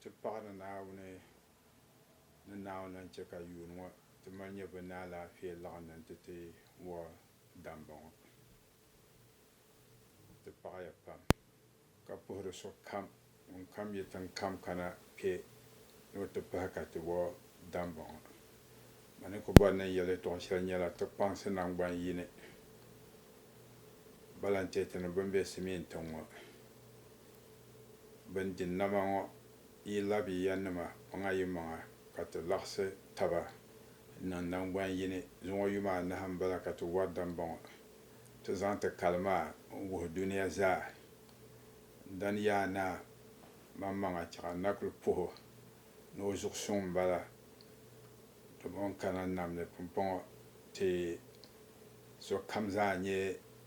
Ti paɣi ni Naawuni ni Naawuni lan chɛ ka yuun ŋɔ ti mali nyɛ bɛ ni alaafee laɣindi nti ti wuhi damba ŋɔ. Ti paɣiya pam ka puhiri sokam ŋun kam yi tiŋkam kana kpe ni o ti pahi ka ti wuhi damba ŋɔ. Ma ni ku bɔri ni n yɛl yɛtɔɣ shɛli nyɛla ti kpaŋsi naŋgban yini balantɛɛtini bɛn be Simien tiŋ ŋɔ. bɛn di nama ŋɔ yi labi ya nima maŋa yi maŋa ka ti laɣisi taba niŋ naŋgban yini. Zuŋɔ yuma anahi m-bala ka ti wari dambɔŋɔ ti zaŋ ti kali maa n-wuhi dunia zaa. Dani Yaa Naa maŋmaŋa chɛ ka Nakuli puh o ni o zuɣu suŋ m-bala. Dama o ni kana nam ni pumpɔŋɔ ti. sokam zaa nyɛ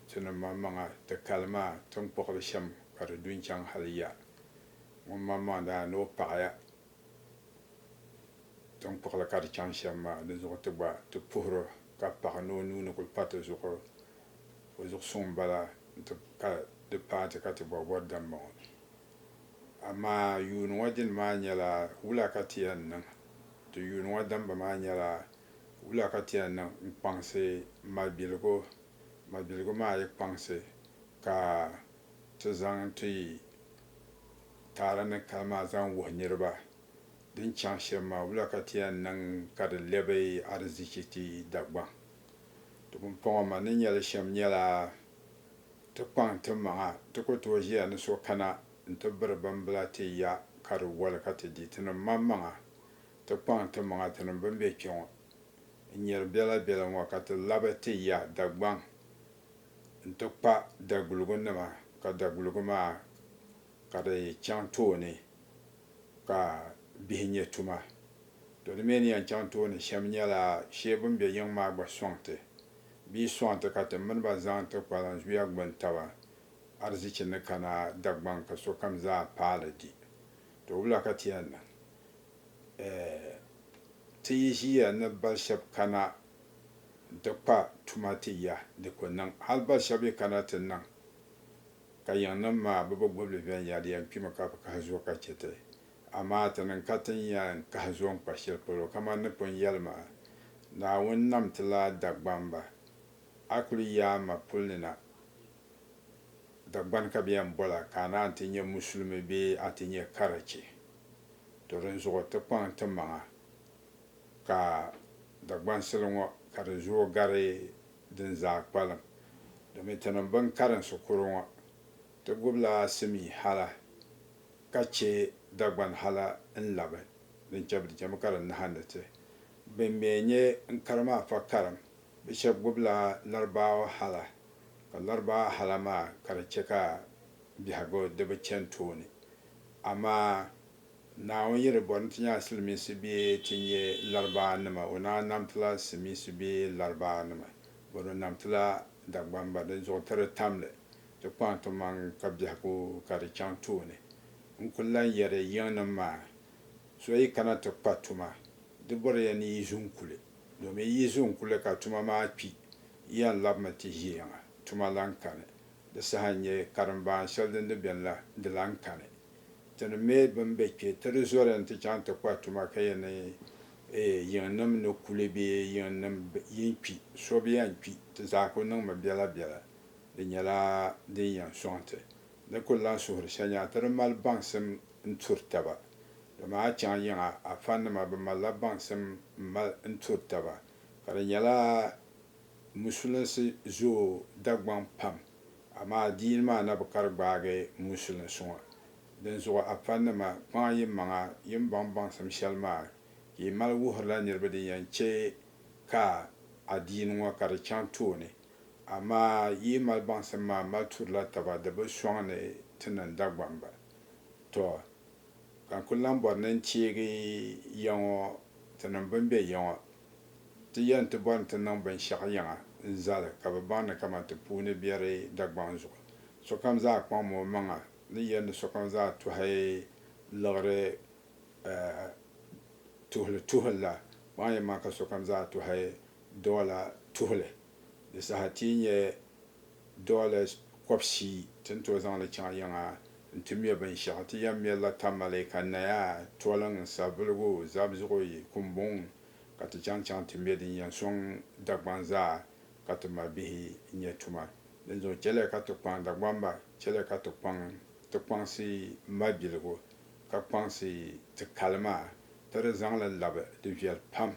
ti ni maŋmaŋa ti kali maa tiŋkpuɣili shɛm ka di du n-chaŋ hali ya ŋun maŋmaŋ daa ni o paɣiya tiŋkpuɣili ka di chaŋ shɛm maa di zuɣu ti gba ti puhir o ka paɣi ni o nuu ni kul pa ti zuɣu o zuɣu suŋ m-bala nti ka di paai ti ka ti bɔri bɔri dambɔŋɔ. Amaa yuuni ŋɔ dini maa nyɛla wula ka ti yɛn niŋ? Ti yuuni ŋɔ dambu maa nyɛla Wula ka ti yɛn niŋ n-kpaŋsi malibiligu? Malibiligu maa yi kpaŋsi ka ti zaŋ ti taara ni kali maa zaŋ wuhi niriba din chaŋ shɛm maa, wula ka ti yɛn niŋ ka di lɛbi arizichi ti Dagbaŋ? Ti pumpɔŋɔ ma ni nya li shɛm nyɛla ti kpaŋ ti maŋa ti ku tooi ʒiya ni so kana nti biri bimbila ti ya ka di woli ka ti di. Tinim maŋmaŋa Ti kpaŋ timaŋa tinim bɛn be kpe ŋɔ n-nyari bela bela ŋɔ ka ti labi ti ya Dagbaŋ nti kpa daguligu nima ka daguligu maa ka di chaŋ tooni ka bihi nyɛ tuma. To di mi ni yɛn chaŋ tooni shɛm nyɛla shee bɛn be yiŋ maa gba sɔŋ ti bee sɔŋ ti ka ti mini ba zaŋ ti kpalan zuya gbuni taba arzichi ni kana Dagbaŋ ka sokam zaa paali di. To wula ka ti yɛn niŋ? Eh, ti yi ʒiya ni bal shɛb kana nti kpa tuma ti ya, di ku niŋ. Hal bal shɛb yi kana ti niŋ, ka yiŋnim maa bɛ bi gub li viɛnyɛliya n-kpimi ka bi kahi zuo ka chɛ ti. Amaa ti niŋ ka tin ya n-kahi zuo n-kpa shɛli polo, kaman ni pun yɛli maa, Naawuni nam ti la Dagbamba, a kul yaai ma puli ni na. Dagbani ka bɛ yɛn bɔla ka a ni a ni ti nyɛ Musulimi bee a ti nyɛ karachi. To dinzuɣu ti kpaŋ ti maŋa ka Dagbansili ŋɔ ka di zooi gari din zaa kpalim domin ti niŋ bini karinsi kuro ŋɔ ti gubila simii hala ka che Dagbani hala n-labi din che bɛ di chemi ka di nahindi ti bini mi n-nyɛ n kari maa fa karim. Bɛ shɛba gbubila Larbaawa hala, ka Larbaawa hala maa ka di chɛ ka biɛhigu di bi chani tooni. Amaa Naawuni yi di bɔri ni ti nya Silimiinsi bee ti nya Larbaawanima, o naan nam ti la Silimiinsi bee Larbaawanima, bɔri o nam ti la Dagbamba dinzuɣu ti di tam li ti kpaŋ timaŋ ka biɛhigu ka di chaŋ tooni. N kul lan yɛri yiŋnim maa, So yi kana ti kpa tuma, di bɔri ya ni yi ʒi n kuli. Domin yi zo n-kuli ka tuma maa kpi, yi yɛn labimi ti ʒiɛyaŋa, tuma lan kani. Di saha n-nyɛ, karimbaan shɛli din di beni la, di lan kani. Ti ni me bɛn be kpe, ti di zoli nti chaŋ ti kpa tuma ka yɛn ni yiŋnim ni kuli bee yiŋnim yin kpi, so bi yɛn kpi, ti zaa kuli niŋmi biɛla biɛla. Di nyɛla din yɛn sɔŋ ti. Ni kul lan suhiri shɛnyɛɣu ti di mali baŋsim n-turi taba. Dama a chaŋ yiŋa a fannima bi malila baŋsim m-mali n-turi taba, ka di nyɛla musulinsi zooi Dagbaŋ pam, amaa adiini maa na bi kari gbaagi musulinsi ŋɔ. Dinzuɣu a fannima, kpaŋa yimaŋa yin baŋ baŋsim shɛli maa ka yi mali wuhirila niriba din yɛn chɛ ka adiini ŋɔ ka di chaŋ tooni. Amaa yi mali baŋsim maa m-mali turila taba di bi sɔŋ ni ti niŋ Dagbamba. Tɔ! Ka n kul lan bɔri ni n teegi ya ŋɔ ti niŋ bɛ ni be ya ŋɔ. Ti yɛn ti bɔri ni ti niŋ binshɛɣu yiŋa n-zali ka bɛ baŋ ni kaman ti puuni biɛri Dagbaŋ zuɣu. Sokam zaa kpaŋmi o maŋa ni yɛli ni sokam zaa tɔhi liɣiri tuhili tuhili la, paɣa yɛn ma ka sokam zaa tɔhi dɔɔ la tuhili. Di saha ti yi nya dɔɔ la kɔbisi ti ni tooi zaŋ li chaŋ yiŋa nti mɛ binshɛɣu, ti yɛn mɛri la tamale ka naya, toliŋ, savuligu, zabizuɣi, kumbuŋ ka ti chaŋ chaŋ ti mɛ din yɛn sɔŋ Dagbaŋ zaa ka ti ma bihi nya tuma. Dinzuɣu chɛliya ka ti kpaŋ Dagbamba, chɛliya ka ti kpaŋ ti kpaŋsi mabiligu ka kpaŋsi ti kali maa, ti di zaŋ li labi di viɛl pam,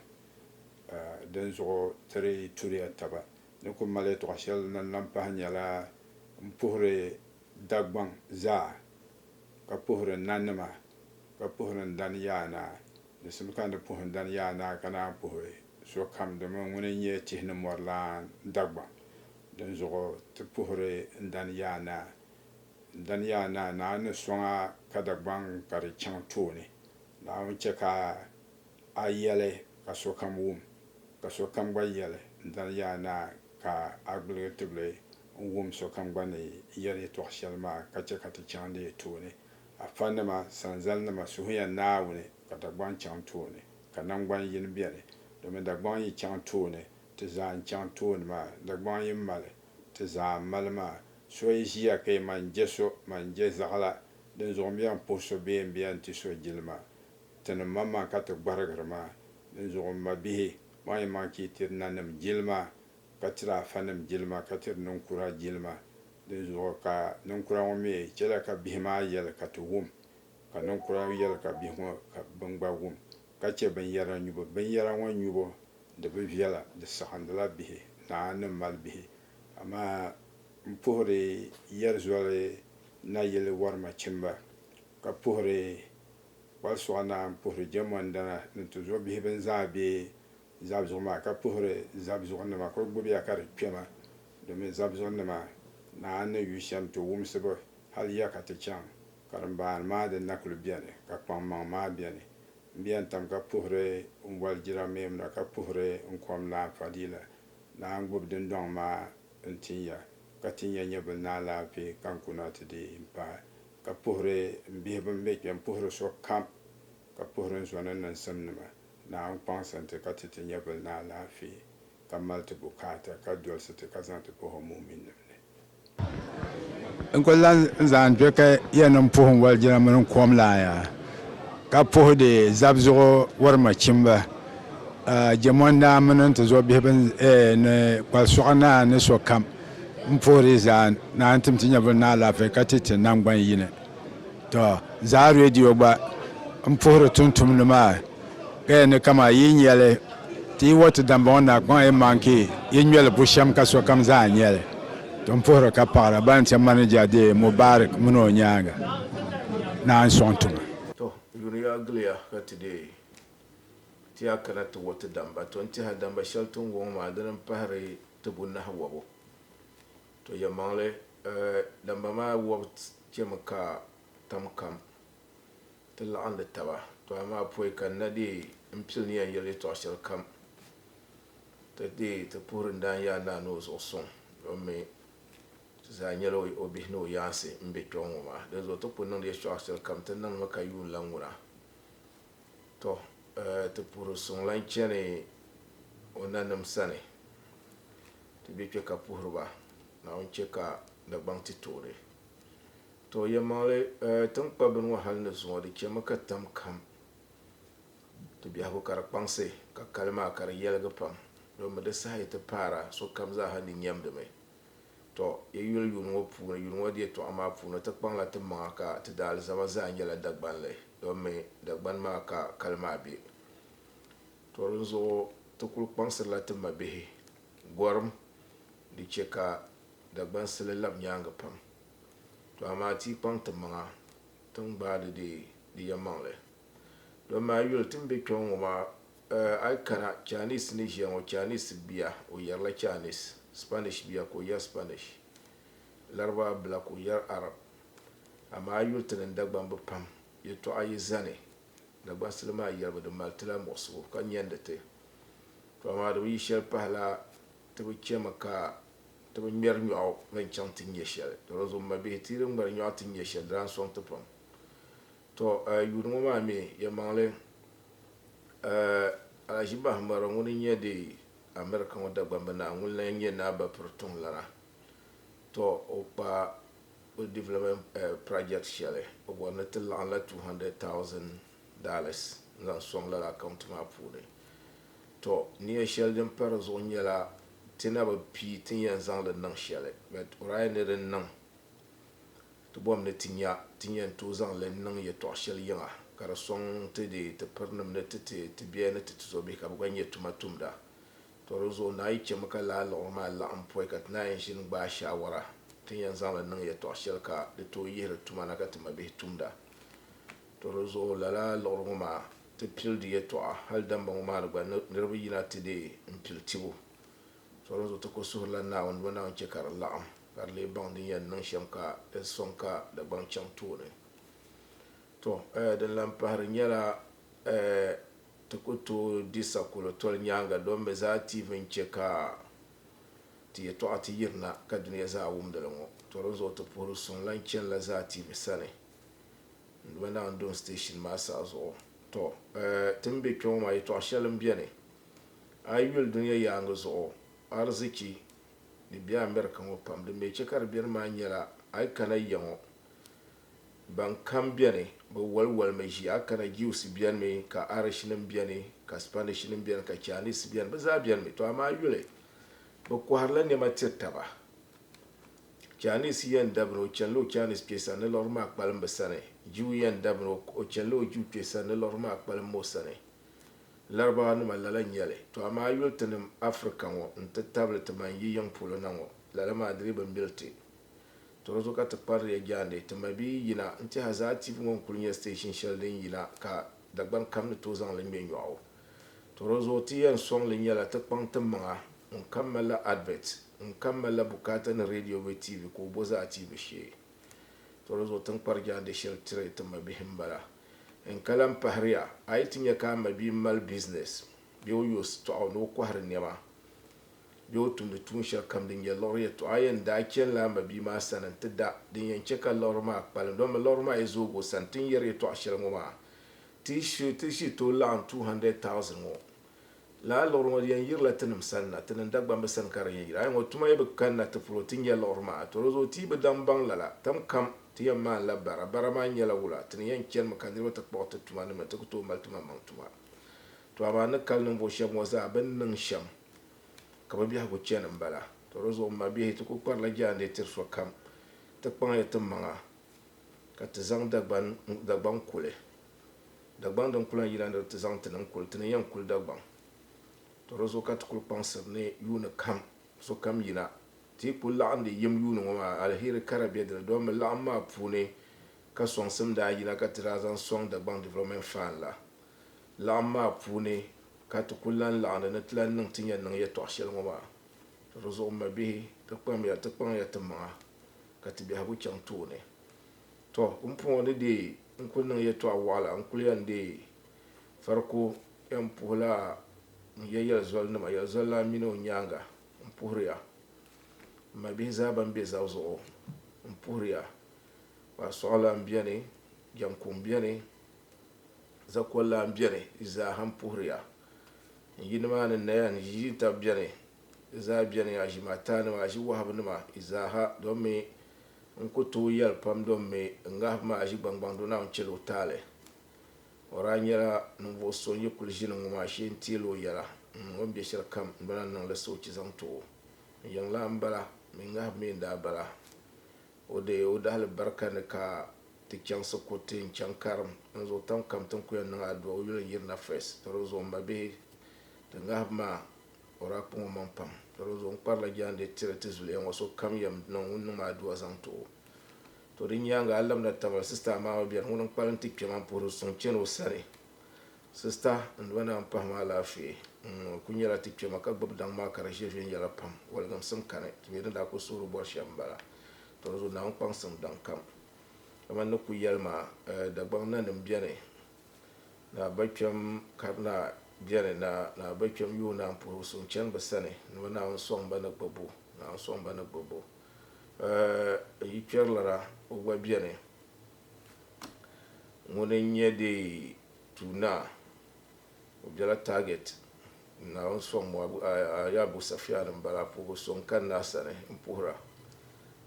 a dinzuɣu ti di turiya taba. Ni ku mali yɛtɔɣ shɛli ni lan pahi nyɛla, M puhiri Dagbaŋ zaa, ka puhiri nanima, ka puhiri n dan yaanaa, di simi ka n ni puhi n dan yaanaa ka naan puhi sokam, domin ŋuni n-nyɛ tihi ni mɔri lan Dagbaŋ. Dinzuɣu ti puhiri n dan yaanaa, Daniya naa, Naa ni sɔŋ a ka Dagbaŋ ka di chaŋ tooni. Naawuni chɛ ka a yɛli ka sokam wum, ka sokam gba yɛli, Daniya naa, ka a gbuligi tibili n-wum sokam gba ni yɛli yɛtɔɣ shɛli maa ka chɛ ka ti chaŋ di tooni. Afanima, sanzalinima, suhuya Naawuni ka Dagbaŋ chaŋ tooni, ka naŋgban yini beni, domin Dagbaŋ yi chaŋ tooni, ti zaa n-chaŋ tooni maa. Dagbaŋ yi mali Ti zaa mali maa. So yi ʒiya ka yi ma n-je so, ma n-je zaɣila. Dinzuɣu m bia m-puhi so bee m bia n-ti so jilima. Ti ni maŋmaŋ ka ti gbarigiri maa. Dinzuɣu m mabihi, maŋ yi maŋ ka yi tiri nanim jilima, ka tiri afanim jilima, ka tiri ninkura jilima. Dinzuɣu ka ninkura ŋɔ mi chɛla ka bihi maa yɛli ka ti wum, ka ninkura yɛli ka bihi ŋɔ ka bini gba wum, ka chɛ binyara nyubu. Binyara ŋɔ nyubu Di bi viɛla, di saɣindila bihi, naa ni mali bihi. Amaa m puhiri yɛrizoli nayili warima chimba, ka puhiri kpalsuɣa naa, m puhiri jɛmɔndana ni tuzo bihi bɛn zaa be zabizuɣu maa, ka puhiri zabizuɣu nima ka o gbubi ya ka di kpe ma, domin zabizuɣu nima naa ni yu shɛm ti wumsi ba, hal ya ka ti chaŋ karimbaani maa din na kuli beni, ka kpaŋmaŋ maa beni. N bɛ yɛn tam ka puhiri n boli jirameem la ka puhiri n kom naa Fadila naa n-gbubi dindɔŋ maa n-tin ya ka tin ya nyɛvili naa laafee ka n kuna ti di n pahi ka puhiri n bihi bɛn be kpe m-puhiri so kam ka puhiri n zo ni niŋsim nima naa n-kpaŋsi n ti ka ti ti nyɛvili naa laafee ka mali ti bukaata ka dolisi ti ka zaŋ ti puhi o mu'uminnim ni. N kuli lan zaŋ n dɔkɛ ya ni m puhi n walijina mini n kom laa ya, ka puhi di zabizuɣu wari machimba, jɛmɔndaa mini n ti zuɣu bihi ni kpal sɔɣu naa ni sokam. M puhi di zaa ni a ni tim ti nyɛvili ni alaafee ka ti ti naŋgban yini. To, Zaa Radio gba n puhiri tumtumdi maa ka yɛn ni kaman yi nya li ti yi wɔti dambɔŋɔ na kpaŋ yi maŋ ka yi ŋme li bushɛm ka sokam zaa nya li. To m puhiri ka paɣira ban chɛ manija deei Mubarak min o nyaaŋa naan sɔŋ tiŋa. To, yuriya giliya ka ti deei ti yaa kana ti wɔti damba. To n-tiha damba shɛli ti ni wo ŋɔ maa dini m-pahiri tibu nahiwɔbu. To yɛlimaŋli, Damba maa wɔbu chɛmi ka tam kam ti laɣindi taba, to amaa pɔi ka n na deei m-pili ni yɛn yɛli yɛtɔɣ shɛlikam ti deei ti puhiri n daanyaa naa ni o zuɣu sɔŋ domin mi ti zaa nyɛla o bihi ni o yaansi m-be kpiɔŋ ŋɔ maa. Dinzuɣu ti ku niŋdi yɛtɔɣ shɛlikam ti niŋdimi ka yuun lan ŋuna. Tɔ! Ti puhiri suŋ lan chani o nanim sani Ti be kpe ka puhiri ba, Naawuni chɛ ka Dagbaŋ ti toori. Tɔ! Yɛlimaŋli, tiŋkpabbini ŋɔ hal ni zuŋɔ, di chɛmi ka tam kam ti biɛhigu ka di kpaŋsi, ka kali maa ka di yɛligi pam, dɔn mi di saha yi ti paara, sokam zaaha ni nyɛmdimi. Tɔ! Yi yuli yuun ŋɔ puuni, yuun ŋɔ di yɛtɔɣa maa puuni, ti kpaŋla ti maŋa ka ti daa alizama zaa nyɛla Dagbanli, dɔn mi Dagbani maa ka kali maa be. Tɔ dinzuɣu ti kul kpaŋsirila ti mabihi gɔrim di chɛ ka Dagbansili lab nyaaŋa pam. Tɔ amaa ti yi kpaŋ timaŋa ti ni gbaai di deei di yɛnmaŋli. Dɔmi a yuli ti ni be kpɛŋɔ ŋɔ maa, a yi kana Chinese ni ʒiya ŋɔ, Chinese bia o yɛrila Chinese, Spanish bia ka o yɛri Spanish, Laribaa bila ka o yɛri Arab. Amaa a yuli ti ni Dagbamb pam, yɛtɔɣa yi zani Dagbasili maa yɛlibu di mali ti la muɣisigu ka nyandi ti, to amaa di bi yi shɛli pahi la ti bi chɛmi ka ti bi ŋmɛri nyɔɣu ni n chaŋ ti nyɛ shɛli. Dɔlɔzu m mabihi, ti yi di ŋmɛri nyɔɣu ti nyɛ shɛli di lan sɔŋ ti pam. To eh, yuuni ŋɔ maa mi yɛlimaŋli eh, Alaji Bahimbara ŋuni n nyɛ di America ŋɔ Dagbambi Naa ŋuni la n nyɛ Naa Bapiri Tuŋlana. To o kpa O development project shɛli o bɔri ni ti laɣim la $200,000 n zaŋ sɔŋ lala account maa puuni. Tɔ nia shɛli din pa di zuɣu nyɛla ti na bi pii ti ni yɛn zaŋ li niŋ shɛli but orahi ni di niŋ ti bɔm ni ti nya ti ni yɛn tooi zaŋ li niŋ yɛtɔɣa shɛli yiŋa ka di sɔŋ ti deei ti pirinim ni ti ti ti biɛhi ni ti tizɔbihi ka bɛ gba nyɛ tuma tumda. Tɔ di zuɣu naa yi chɛmi ka laa liɣiri maa laɣim pɔi ka ti naa yɛn ʒini gbaai shaawara, ti ni yɛn zaŋ li niŋ yɛtɔɣ shɛli ka di tooi yihiri tuma na ka ti mabihi tumda. Tɔ di zuɣu lala liɣiri ŋɔ maa, ti pili di yɛtɔɣa hali damba ŋɔ maa ni gba niriba yina ti deei m-pili tibu. Tɔ di zuɣu ti ku suhirila Naawuni dima Naawuni chɛ ka di laɣim ka di lee baŋ din yɛn niŋ shɛm ka di sɔŋ ka Dagbaŋ chaŋ tooni. Tɔ! Din lan pahiri nyɛla, Ti ku tooi di sakolo toli nyaaŋa don bɛ zaa tiivi n-chɛ ka ti yɛtɔɣa ti yirina ka dunia zaa wumdi li ŋɔ. Tɔ dinzuɣu ti puhiri suŋ lan chani la zaa tiivi sani n-duma Naawuni Dɔn Station maa saha zuɣu. Tɔ! Ti ni be kpe ŋɔ maa yɛtɔɣ shɛli m-beni a yi yuli dunia yaaŋa zuɣu arzichi ni be America ŋɔ pam din be chɛ ka di beni maa nyɛla a yi kana ya ŋɔ Ban kam beni, bɛ waliwalimi ʒi a kana, Jiwsi benimi, ka Arishinim beni, ka Spanishinim beni, ka Chainisi beni, bɛ zaa benimi. Tɔ amaa yuli, bɛ kɔhirila nɛma tiri taba. Chainisi yɛn dabina, o chanila o Chainisi kpe sani, ni liɣiri maa kpalim bɛ sani. Jiw yɛn dabina, o chanila o Jiw kpe sani, ni liɣiri maa kpalim mo sani. Larabawanima lala n-nyɛ li. Tɔ amaa yuli tinim Afirika ŋɔ nti tabili timaŋ yi yiŋ polo na ŋɔ, lala maa di lee bi mili ti. Tɔro zuɣu ka ti kpari ya jaande ti mabia yina nti Hazaa TV ŋɔ n-kuli nyɛ station shɛli din yina ka Dagban kam ni tooi zaŋ li ŋme nyɔɣu. Tɔro zuɣu ti yɛn sɔŋ li nyɛla ti kpaŋ ti maŋa ŋun kam malila advert, ŋun kam malila bukaata ni radio bee TV ka o bo zaa ti bi shee. Tɔro zuɣu ti ni kpari jaande shɛli tiri ti mabihi m-bala. N ka lahi pahiriya, a yi ti nya ka a mabia mali business bee o yoosi tɔɣu ni o kɔhiri nɛma bee o tumdi tuun shɛli kam din nyɛ liɣiri yɛtɔɣa. A yɛn daa chanila a mabia maa sani nti da, din yɛn chɛ ka liɣiri maa kpalim. Dama liɣiri maa yi zoog o sani, ti ni yɛri yɛtɔɣ shɛli ŋɔ maa, ti shiri tooi laɣim 200,000 ŋɔ. Lala liɣiri ŋɔ di yɛn yirila tinim sani na, tinim Dagbamba sani ka di yɛn yiri. A yi nya o tuma yi bi kanna ti polo ti nya liɣiri maa, tɔ di zuɣu ti yi bi daŋ baŋ lala. Tam kam ti yɛn maanila bara. Bara maa nyɛla wula? Ti ni yɛn chanimi ka niriba ti kpuɣi ti tuma ni mi ti ku tooi mali timaŋmaŋ tuma. Tɔ amaa n ni kali ninvuɣ shɛb ŋɔ zaa bɛ ni niŋ shɛm. ka bɛ biɛhigu chani m-bala. Tɔ di zuɣu m mabiɛhi ti ku kparila jaande tiri sokam. Ti kpaŋya ti maŋa ka ti zaŋ Dagbaŋ kuli. Dagbaŋ din ku lan yi la ni di ti zaŋ ti ni n-kuli, ti ni yɛn kuli Dagbaŋ. Tɔ di zuɣu ka ti kuli kpaŋsiri ni yuuni kam sokam yina. Ti yi ku laɣindi yim yuuni ŋɔ maa, aliheri kara be di ni. Dɔmmi laɣim maa puuni ka sɔŋsim daa yina ka ti daa zaŋ sɔŋ Dagbaŋ Development Fund la. laɣim maa puuni ka ti kul lan laɣindi ni ti lan niŋ ti ni yɛn niŋ yɛtɔɣ shɛli ŋɔ maa. Di zuɣu m mabihi, ti kpamya ti kpaŋ ya timaŋa ka ti biɛhigu chaŋ tooni. Tɔ! Pumpɔŋɔ ni deei n kul niŋ yɛtɔɣ wɔɣila n kul yɛn deei Fariko yɛn puhi la n ya yɛlizɔlinima, yɛlizɔlilana mini o nyaaŋa n puhiri ya. M mabihi zaa bɛn be zab zuɣu m puhiri ya. Kparisɔɣilan beni, jɛŋkuŋ beni. Zakwan lan beni, di zaa ha m-puhiri ya. N yi nimaani naya ni yi ʒin tabi beni, di zaa beni ya, ʒim ataanima, aʒi wahabinima, di zaa ha, domi n ku tooi yɛli pam domi n ŋahibu maa aʒi gbaŋgbaŋ do Naawuni chɛli o taali. O daa nyɛla ninvuɣ so n yi kuli ʒini ŋɔ maa shee n-teeli o yɛla, m o ni be shɛlikam m-bana n-niŋ li soochi zaŋ ti o. N yiŋ lan m-bala, mi ŋahibu mi n-daa bala. O deei o dahilibarika ni ka ti chaŋsi kuriti n-chaŋ karim n zuɣu tam kam tin ku yɛn niŋ adua o yuli n-yirina first doli o zuɣu m mabihi ti ŋahibu maa o daa kpuŋ o maŋ pam doli o zuɣu n kparila jaandeei tiri ti zuliya ŋɔ so kam yɛn niŋ ŋun niŋ ma adua zaŋ ti o to di nyaaŋa a labina tamali sista Amaama bɛri ŋuni n kpalim ti kpɛma m puhiri suŋ chani o sani Sista n doli naa m-pahi ma alaafee. N ŋɔ kuli nyɛla ti kpɛma ka gbubi daŋ maa ka di ʒiri viɛnyɛla pam. Waligiŋsim kani, ti mi din daa kuli suhiri bɔri shɛm m-bala. Tɔ di zuɣu naa ŋun kpaŋsim daŋkam. Kamani ni ku yɛli maa, Dagbaŋ nanim beni, naa bakpɛm karinaa beni, naa bakpɛm yuhi naa puhibu suŋ chani bɛ sani ni bɛ Naawuni sɔŋ ba ni gbibbu, Naawuni sɔŋ ba ni gbibbu. N yi kpɛrilira o gba beni ŋuni n-nyɛ deei Tuu Naa, o bela Target. N Naawuni sɔŋ Moab ayaabu safiɛani m-bala, puhibu so n-kani na a sani m-puhira.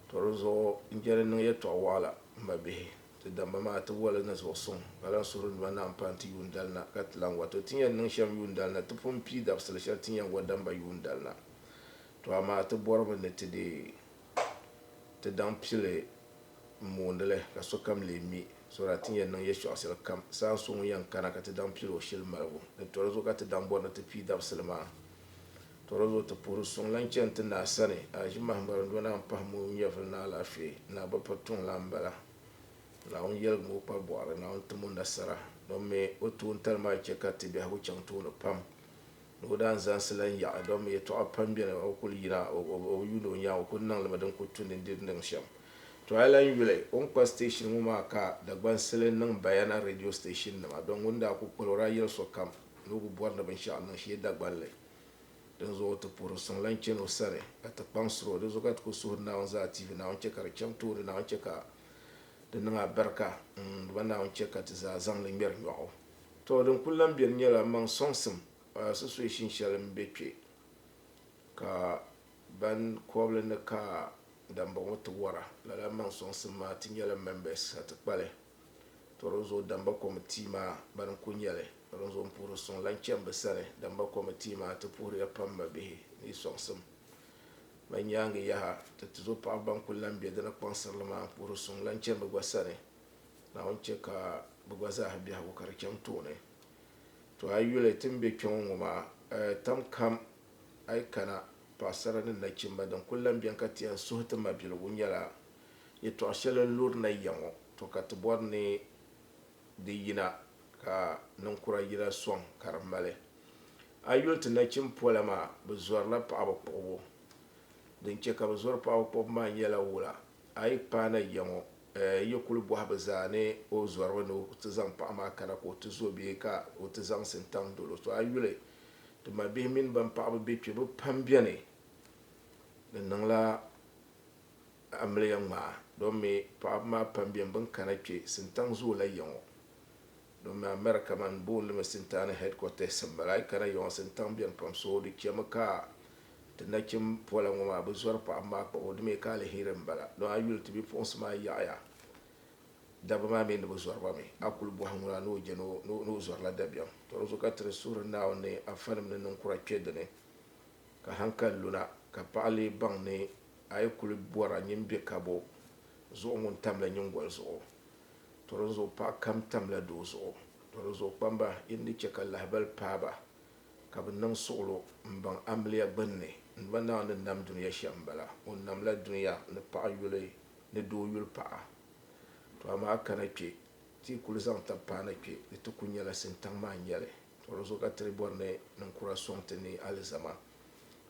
Tɔ di zuɣu n je ni n niŋ yɛtɔɣ wɔɣila, m mabihi, ti damba maa ti woli ni zuɣu suŋ, ka lan suhiri n duma naa m-pahi ti yuundali na, ka ti lan wa. Tɔ ti ni yɛn niŋ shɛm yuundali na, ti pun pii dabisili shɛli ti ni yɛn wa damba yuundali na. Tɔ amaa ti bɔrimi ni ti deei. ti daŋ pili m-moondi li ka sokam lee mi, so daa ti ni yɛn niŋ yɛtɔɣ shɛli kam. Saha so ŋun yɛn kana ka ti daŋ pili o shili maligu ni tɔri zuɣu ka ti daŋ bɔri ni ti pii dabisili maa. Tɔri zuɣu ti puhiri suŋ lan chani ti naa sani, Aʒimahi Marindona m-pahi mooi nyɛvili ni alaafee. Naa bi piri tuŋ lan m-bala. Naawuni yɛligi mi o kpari bɔɣiri, Naawuni tim o nasara. Domi o toon tali maa chɛ ka ti biɛhigu chaŋ tooni pam. ni o daa ni zaŋsila n yaɣi dɔmmi yɛtɔɣa pam beni, o kul yina o bi yuuni o nyaŋ, o kul niŋ li mi din kul tu ni di ni niŋ shɛm. Tɔ a lan yuli o ni kpa station ŋɔ maa ka Dagbansili niŋ Bayana radio station nima don ŋun daa kul kpal o daa yɛli sokam ni o bi bɔri ni binshɛɣu niŋ shee Dagbanli. Dinzuɣu o ti puhiri suŋ lan chani o sani ka ti kpaŋsiri o. Dinzuɣu ka ti kul suhiri Naawuni zaa TV, Naawuni chɛ ka di chaŋ tooni, Naawuni chɛ ka di niŋ abɛrika, m, dama Naawuni chɛ ka ti zaa zaŋ li ŋmɛri nyɔɣu. Tɔ, din kul lan beni nyɛla maŋ sɔŋsim a sitɔeeshin shɛli m be kpe ka ban kɔbili ni ka dambɔŋɔ ti wara. Lala maŋ sɔŋsim maa ti nyɛla mɛmbɛs a ti kpali. Tɔ, dinzuɣu damba kɔmitii maa bani n-kul nya li. Tɔ, dinzuɣu m puhiri suŋ lan chani bɛ sani. Damba kɔmitii maa ti puhiriya pam mabihi ni yi sɔŋsim ma nyaaŋa yaha. Tɔ, tizo paɣiba ban kul lan be di ni kpaŋsiri li maa puhiri suŋ lan chani bɛ gba sani. Naawuni chɛ ka bɛ gba zaa biɛhigu ka di chaŋ tooni. To a yuli ti ni be kpɛŋɔ ŋɔ maa, tam kam a yi kana, paɣisara ni nachimba, din kul lan beni ka ti yɛn suhi ti mabiligu nyɛla yɛtɔɣ shɛli n-luri na ya ŋɔ. To ka ti bɔri ni di yina ka ninkura yina sɔŋ ka di mali. A yuli ti nachim pola maa, bɛ zɔrila paɣiba kpuɣibu. Din chɛ ka bɛ zɔri paɣiba kpuɣibu maa nyɛla wula a yi paai na ya ŋɔ Yi kul bɔhi bɛ zaa ni o zɔrimi ni o ti zaŋ paɣ maa kana ka o ti zo bee ka o ti zaŋ sintaŋ dol o. Tɔ a yuli ti mabihi mini bɛn paɣibu be kpe bɛ pam beni ni niŋla amiliya ŋmaa dɔmi paɣibu maa pam beni bɛn kana kpe. Sintaŋ zoola ya ŋɔ. Domin America man booni mi Sintani headquarters m bala. Ayi kana Yɔŋa Sintaŋ beni pam so di chemi ka ti nachim pola ŋɔ maa bi zɔri paɣaba maa kpab o di mi ka aliheri m bala. Don a yuli ti bipuɣinsi maa yaɣiya dabba maa mi ni bi zɔri ba mi. A kuli bɔhi ŋuna ni o je ni o zɔrila dabiɛm. To di zuɣu ka ti di suhiri Naawuni ni afanim ni ninkura kpe dini ka hankali luna ka paɣa lee baŋ ni a yi kuli bɔra nyin be kabo zuɣu ŋun tamli nyingoli zuɣu. To dinzuɣu paɣ kam tamla doo zuɣu. To dinzuɣu kpamba, yi ni di chɛ ka lahibal paai ba, ka bɛ niŋ suɣilo m-baŋ amiliya gbinni, n ma Naawuni ni nam dunia shɛm m-bala. O namla dunia ni paɣ yuli ni doo yuli paɣa. To amaa kana kpe, ti yi kul zaŋ tab paana kpe, di ti ku nyɛla sintaŋ maa n-nyɛli. To dinzuɣu ka ti di bɔri ni niŋkura sɔŋ ti ni alizama.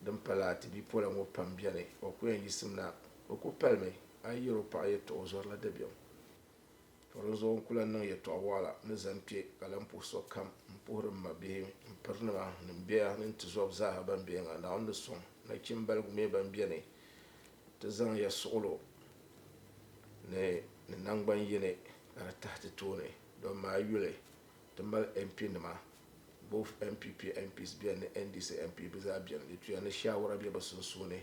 Din pala, ti bipola ŋɔ pam beni, o ku yɛn yisimna. O ku palimi. A yi yɛr o paɣa yɛtɔɣa o zɔrila dabiɛm. Tɔ! Di zuɣu n ku lan niŋ yɛtɔɣ waɣila ni zani kpe ka lan puhi sokam m-puhiri m mabihi, m pirinima, ni m bɛya ni n tizɔb zaaha bɛn be Eŋa Naawuni ni sɔŋ nachimbaligu mi bɛn beni nti zaŋ ya suɣilo ni ni naŋgban yini ka di tahi ti tooni dɔm maa yuli. Ti mali MP nima, both NPP MPs beni ni NDC MP bɛ zaa beni. Di tuya ni shaawara be bɛ sunsuuni.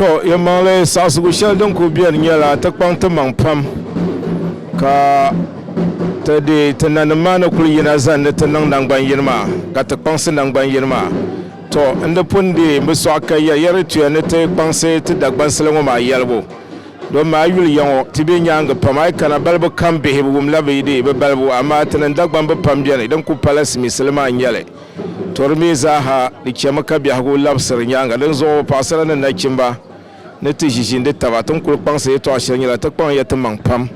to yɛmaŋli saɣisigu shɛli din kuli bɛni nyɛla ti kpaŋ ti maŋ pam ka ti deei ti nanim maa ni kuli yina zani ni ti niŋ nangbani yini maa ka ti kpaŋsi nangbani yini maa to n di pun deei n bi sɔɣi ka yɛli yɛri di tuya ni ti kpaŋsi ti Dagbansili ŋɔ maa yɛligu domi a yi yuli ya ŋɔ ti bɛ nyaaŋa pam a yi kana balibu kam bihi bi wumla bi deei bi balibu amaa ti ni Dagbaŋ bi pam bɛni din kuli pala simiisili maa n-nyɛli Tori mi zaaha di chɛmi ka biɛhigu labisiri nyaaŋa. Dinzuɣu paɣisara ni nachimba ni ti ʒiʒi n-di taba. Ti ni kuli kpaŋsi yɛtɔɣ shɛli nyɛla ti kpaŋ ya timaŋ pam.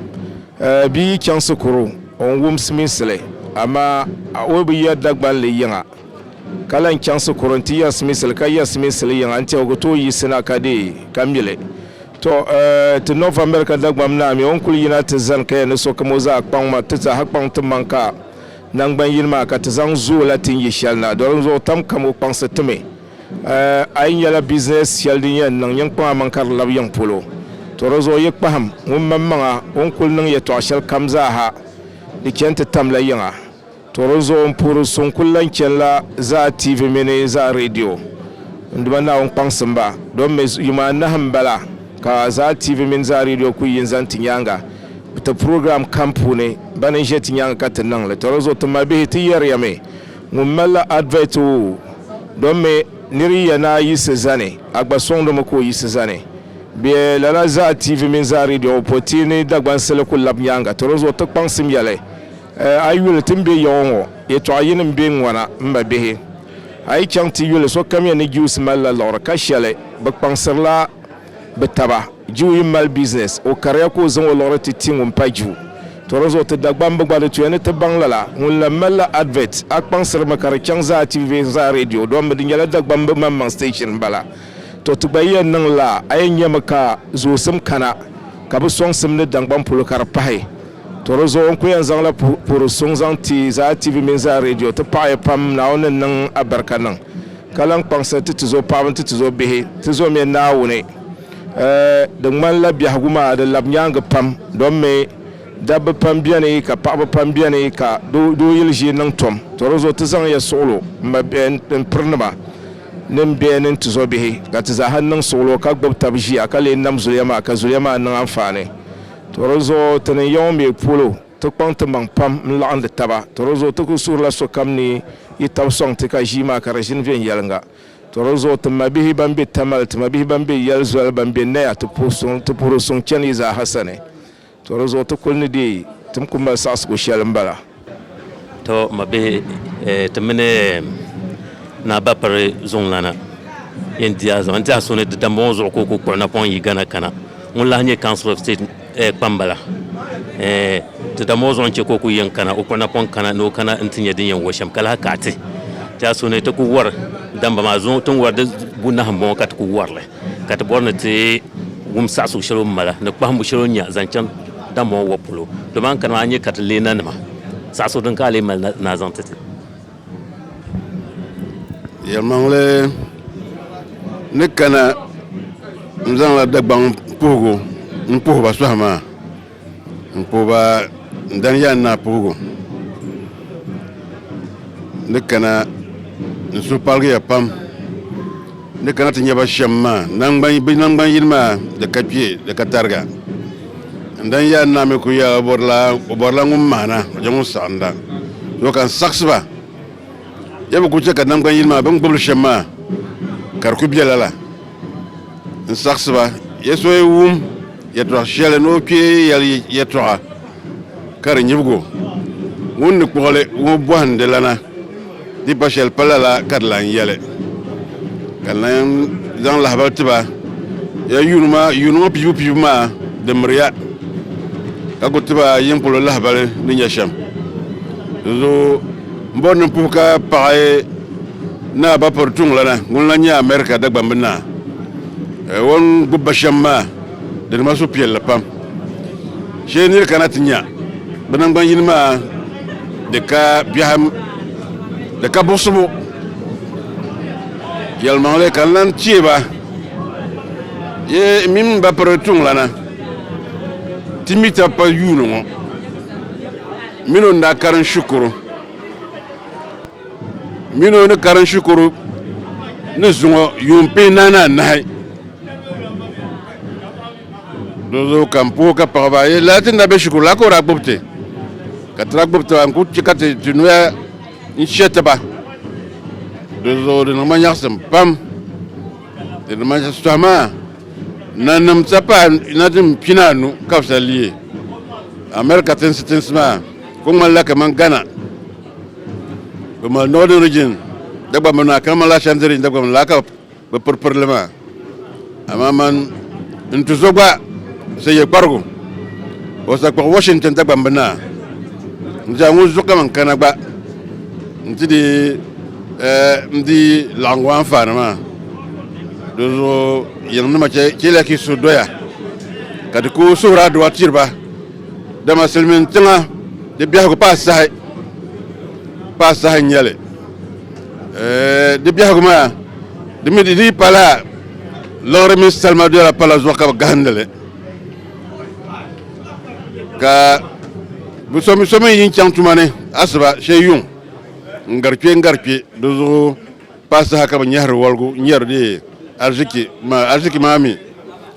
Bia yi chaŋ sikuru o ni wumsi minsi li amaa o bi yɛri Dagban li yiŋa ka lan chaŋ sikuru n-ti yɛri siminsi li ka yɛri siminsi li yiŋa n-tɛhi o ku tooi yiɣisi na ka deei ka mi li. Tɔ! Ti North America Dagbam naa mi o ni kuli yina ti zani ka yɛn ni sokam o zaa kpaŋ ma ti zaaha kpaŋ timaŋ ka Naŋgban yini maa ka ti zaŋ zooi la ti ni yi shɛli na, doli n zuɣu tam ka mo kpaŋsi ti mi. A yi nyɛla bizinɛs shɛli din yɛn niŋ nyiŋkpaŋ aman ka di labi yiŋ polo, tɔ di zuɣu yi kpahim ŋun mam maŋa o ni kul niŋ yɛtɔɣ shɛli kam zaa ha, di chani ti tam la yiŋa. Tɔ di zuɣu n puhiri so n kul lan chani la zaa TV mini zaa radio. N Duuma Naawuni kpaŋsim ba, domi yuma anahi m-bala ka zaa TV mini zaa radio kul yi n zani ti nyaaŋa. Ti program kam puuni, bani n ʒe ti nyaaŋa ka ti niŋ li. Tɔra zuɣu, ti malibihi ti yɛriya mi, ŋun malila advert o dɔm mi nir yiya ni a yiɣisi zani, a gba sɔŋdi mi ka o yiɣisi zani. Bee lala zaa TV mini zaa radio ŋɔ pɔi ti ni Dagbansili ku lab nyaaŋa. Tɔra zuɣu, ti kpaŋsim yɛli, Eh, a yi yuli ti ni be yaɣu ŋɔ, yɛtɔɣa yini m-be n-ŋɔna, m mabihi. A yi chaŋ ti yuli, sokamiya ni Jews malila liɣiri ka shɛli, bɛ kpaŋsirila, Bɛ taba, Jiu yi mali business, o kariya ka o zaŋ o liɣiri ti ti ŋun pa Jiu. Tɔ di zuɣu ti Dagbamb gba di tuya ni ti baŋ lala, ŋun lan mali la advert, a kpaŋsiri mi ka di chaŋ zaa TV zaa radio dɔm mi di nyɛla Dagbamb maŋmaŋ station m-bala. Tɔ ti gba yi yɛn niŋ laa, a yɛn nyami ka zoosim kana ka bɛ sɔŋsim ni Dangbaŋ polo ka di pahi. To di zuɣu n ku yɛn zaŋla puhiri suŋ zaŋ ti Zaa TV mini Zaa Radio. Ti paɣi ya pam, Naawuni ni niŋ a barika niŋ ka lan kpaŋsiri ti ti zo paɣaba ni ti ti zo bihi. Ti zɔmiya Naawuni. Di ŋmani la biɛhigu maa di labi nyaangi pam domi dabba pam beni ka paɣaba pam beni ka doo yili ʒii niŋ tom. To di zuɣu ti zaŋ ya suɣilo n piri nima ni n biɛhi ni n ti zo bihi ka ti zaaha niŋ suɣilo ka gbubi tab ʒiya ka lee nam zuliya maa ka zuliya maa niŋ anfaani. Tɔ di zuɣu ti ni ya ŋɔ mi polo, ti kpaŋ timaŋ pam n-laɣindi taba. Tɔ di zuɣu ti kul suhirila sokam ni yi tab sɔŋ ti ka ʒii maa ka di ʒini viɛnyɛliŋga. Tɔ di zuɣu ti mabihi bɛn be Tamale, ti mabihi bɛn be yɛl zoli, bɛn be Naya, ti puhiri suŋ chani yi zaaha sani. Tɔ di zuɣu ti kul ni deei tim kul mali saɣisigu shɛli m-bala. To ma bihi ti mini Naa Bapiri zuŋlana yɛn di a zuɣu n tiɛha so ni di dambɔŋɔ zuɣu ka o ku kpuɣi napɔŋ yi Ghana kana ŋun lahi nyɛ Council of State kpambala di dambɔŋɔ zuɣu n-chɛ ka o ku yɛn kana o kpuɣi napɔŋ kana ni o kana n-ti nya din yɛn wari shɛm ka lahi kaɣiti tiɛha so ni ti ku wari damba maa zuŋɔ ti ni wari di bunahi m-bɔŋɔ ka ti ku wari li. ka ti bɔri ni ti wum saɣisigu shɛli o ni mali ni kpahimbu shɛli o ni nya zaŋ chaŋ Damɔŋɔ Wɔb polo. Dama a ni kana maa a ni nya ka ti leei nanima saɣisigu din ka a lee mali na ni a zaŋ ti ti. Yɛlimaŋli ni kana n-zaŋla Dagbaŋ puhigu m-puhi ba sɔhi maa. N puhi ba, n dani ya n naa puhigu ni kana n suhu paligi ya pam ni kana ti nya ba shɛm maa. Bɛ naŋgban yini maa di ka kpe, di ka tariga. N dani ya n naa mi kul yɛla o bɔrila ŋun mahina, o je ŋun saɣinda. Doo ka n saɣisi ba, ya bi kul chɛ ka naŋgban yini maa bɛ ni gbib li shɛm maa ka di kul be lala. n saɣisi ba, ya so yi wum yɛtɔɣ shɛli ni o kpee yɛli yɛtɔɣa ka di nyibig o, ŋun ni kpuɣi li ŋɔ bɔhindi lana, di pa shɛli pa lala ka di lan yɛli. Ka Naim zaŋ lahibal ti ba, Ya yuuni yuuni ŋɔ piibu piibu maa di miri ya, ka ku ti ba yin polo lahibali ni nya shɛm. Dinzuɣu M bɔri ni n puhi ka paɣi Naa Bapɔri Tuŋlana ŋun lan nyɛ America Dagbamb Naa. O ni gbubi ba shɛm maa di niŋ ma suhupiɛlli pam. Shee nir kana ti nya bɛ naŋgban yini maa di ka biɛhim di ka buɣisibu yɛlimaŋli ka n lan chie ba yi mini Bapɔri Tuŋlana ti mi tab pal yuuni ŋɔ. Mini o ni daa karim shikuru mini o ni karim shikuru ni zuŋɔ yuun pee naani anahi. Di zuɣu ka n puhi ka paɣi ba, Yi lala ti ni daa be shikuru la ka o daa gbubi ti? Ka ti daa gbubi taba, n kul chɛ ka ti ti noya n-shɛ ti ba. Di zuɣu di niŋ ma nyaɣisim pam. Di ni mali shitɔɣu maa, nanim sa paai na din pina anu ka bɛ sa leei America tinsi tinsi maa kuli ŋmanila kaman Ghana, bɛ mali Northern Region Dagbamb naa kaman lala Ashanti Region Dagbamb laa ka bɛ piri piri li maa. Amaa man n tuzo gba sa ye kparigu o sa kpuɣi Washington Dagbamb naa n-ti a ŋun zuɣu kaman kana gba n-ti di N di laɣingu anfaani maa, dinzuɣu yiŋnima chɛliya ka yi suhu doya, ka di ku suhuri adua tiri ba, dama silimiin tiŋa di biɛhigu paai saha, paai saha n-nyɛ li. Di biɛhigu maa, di mi di dii pala liɣiri mini salima doya pala zuɣu ka bɛ gahindi li, ka bɛ so mi yi chaŋ tuma ni asiba shee yuŋ. N gari kpe n gari kpe, di zuɣu paai saha ka bɛ nyɛhiri waligu n-yɛri di arziki maa, arziki maa mi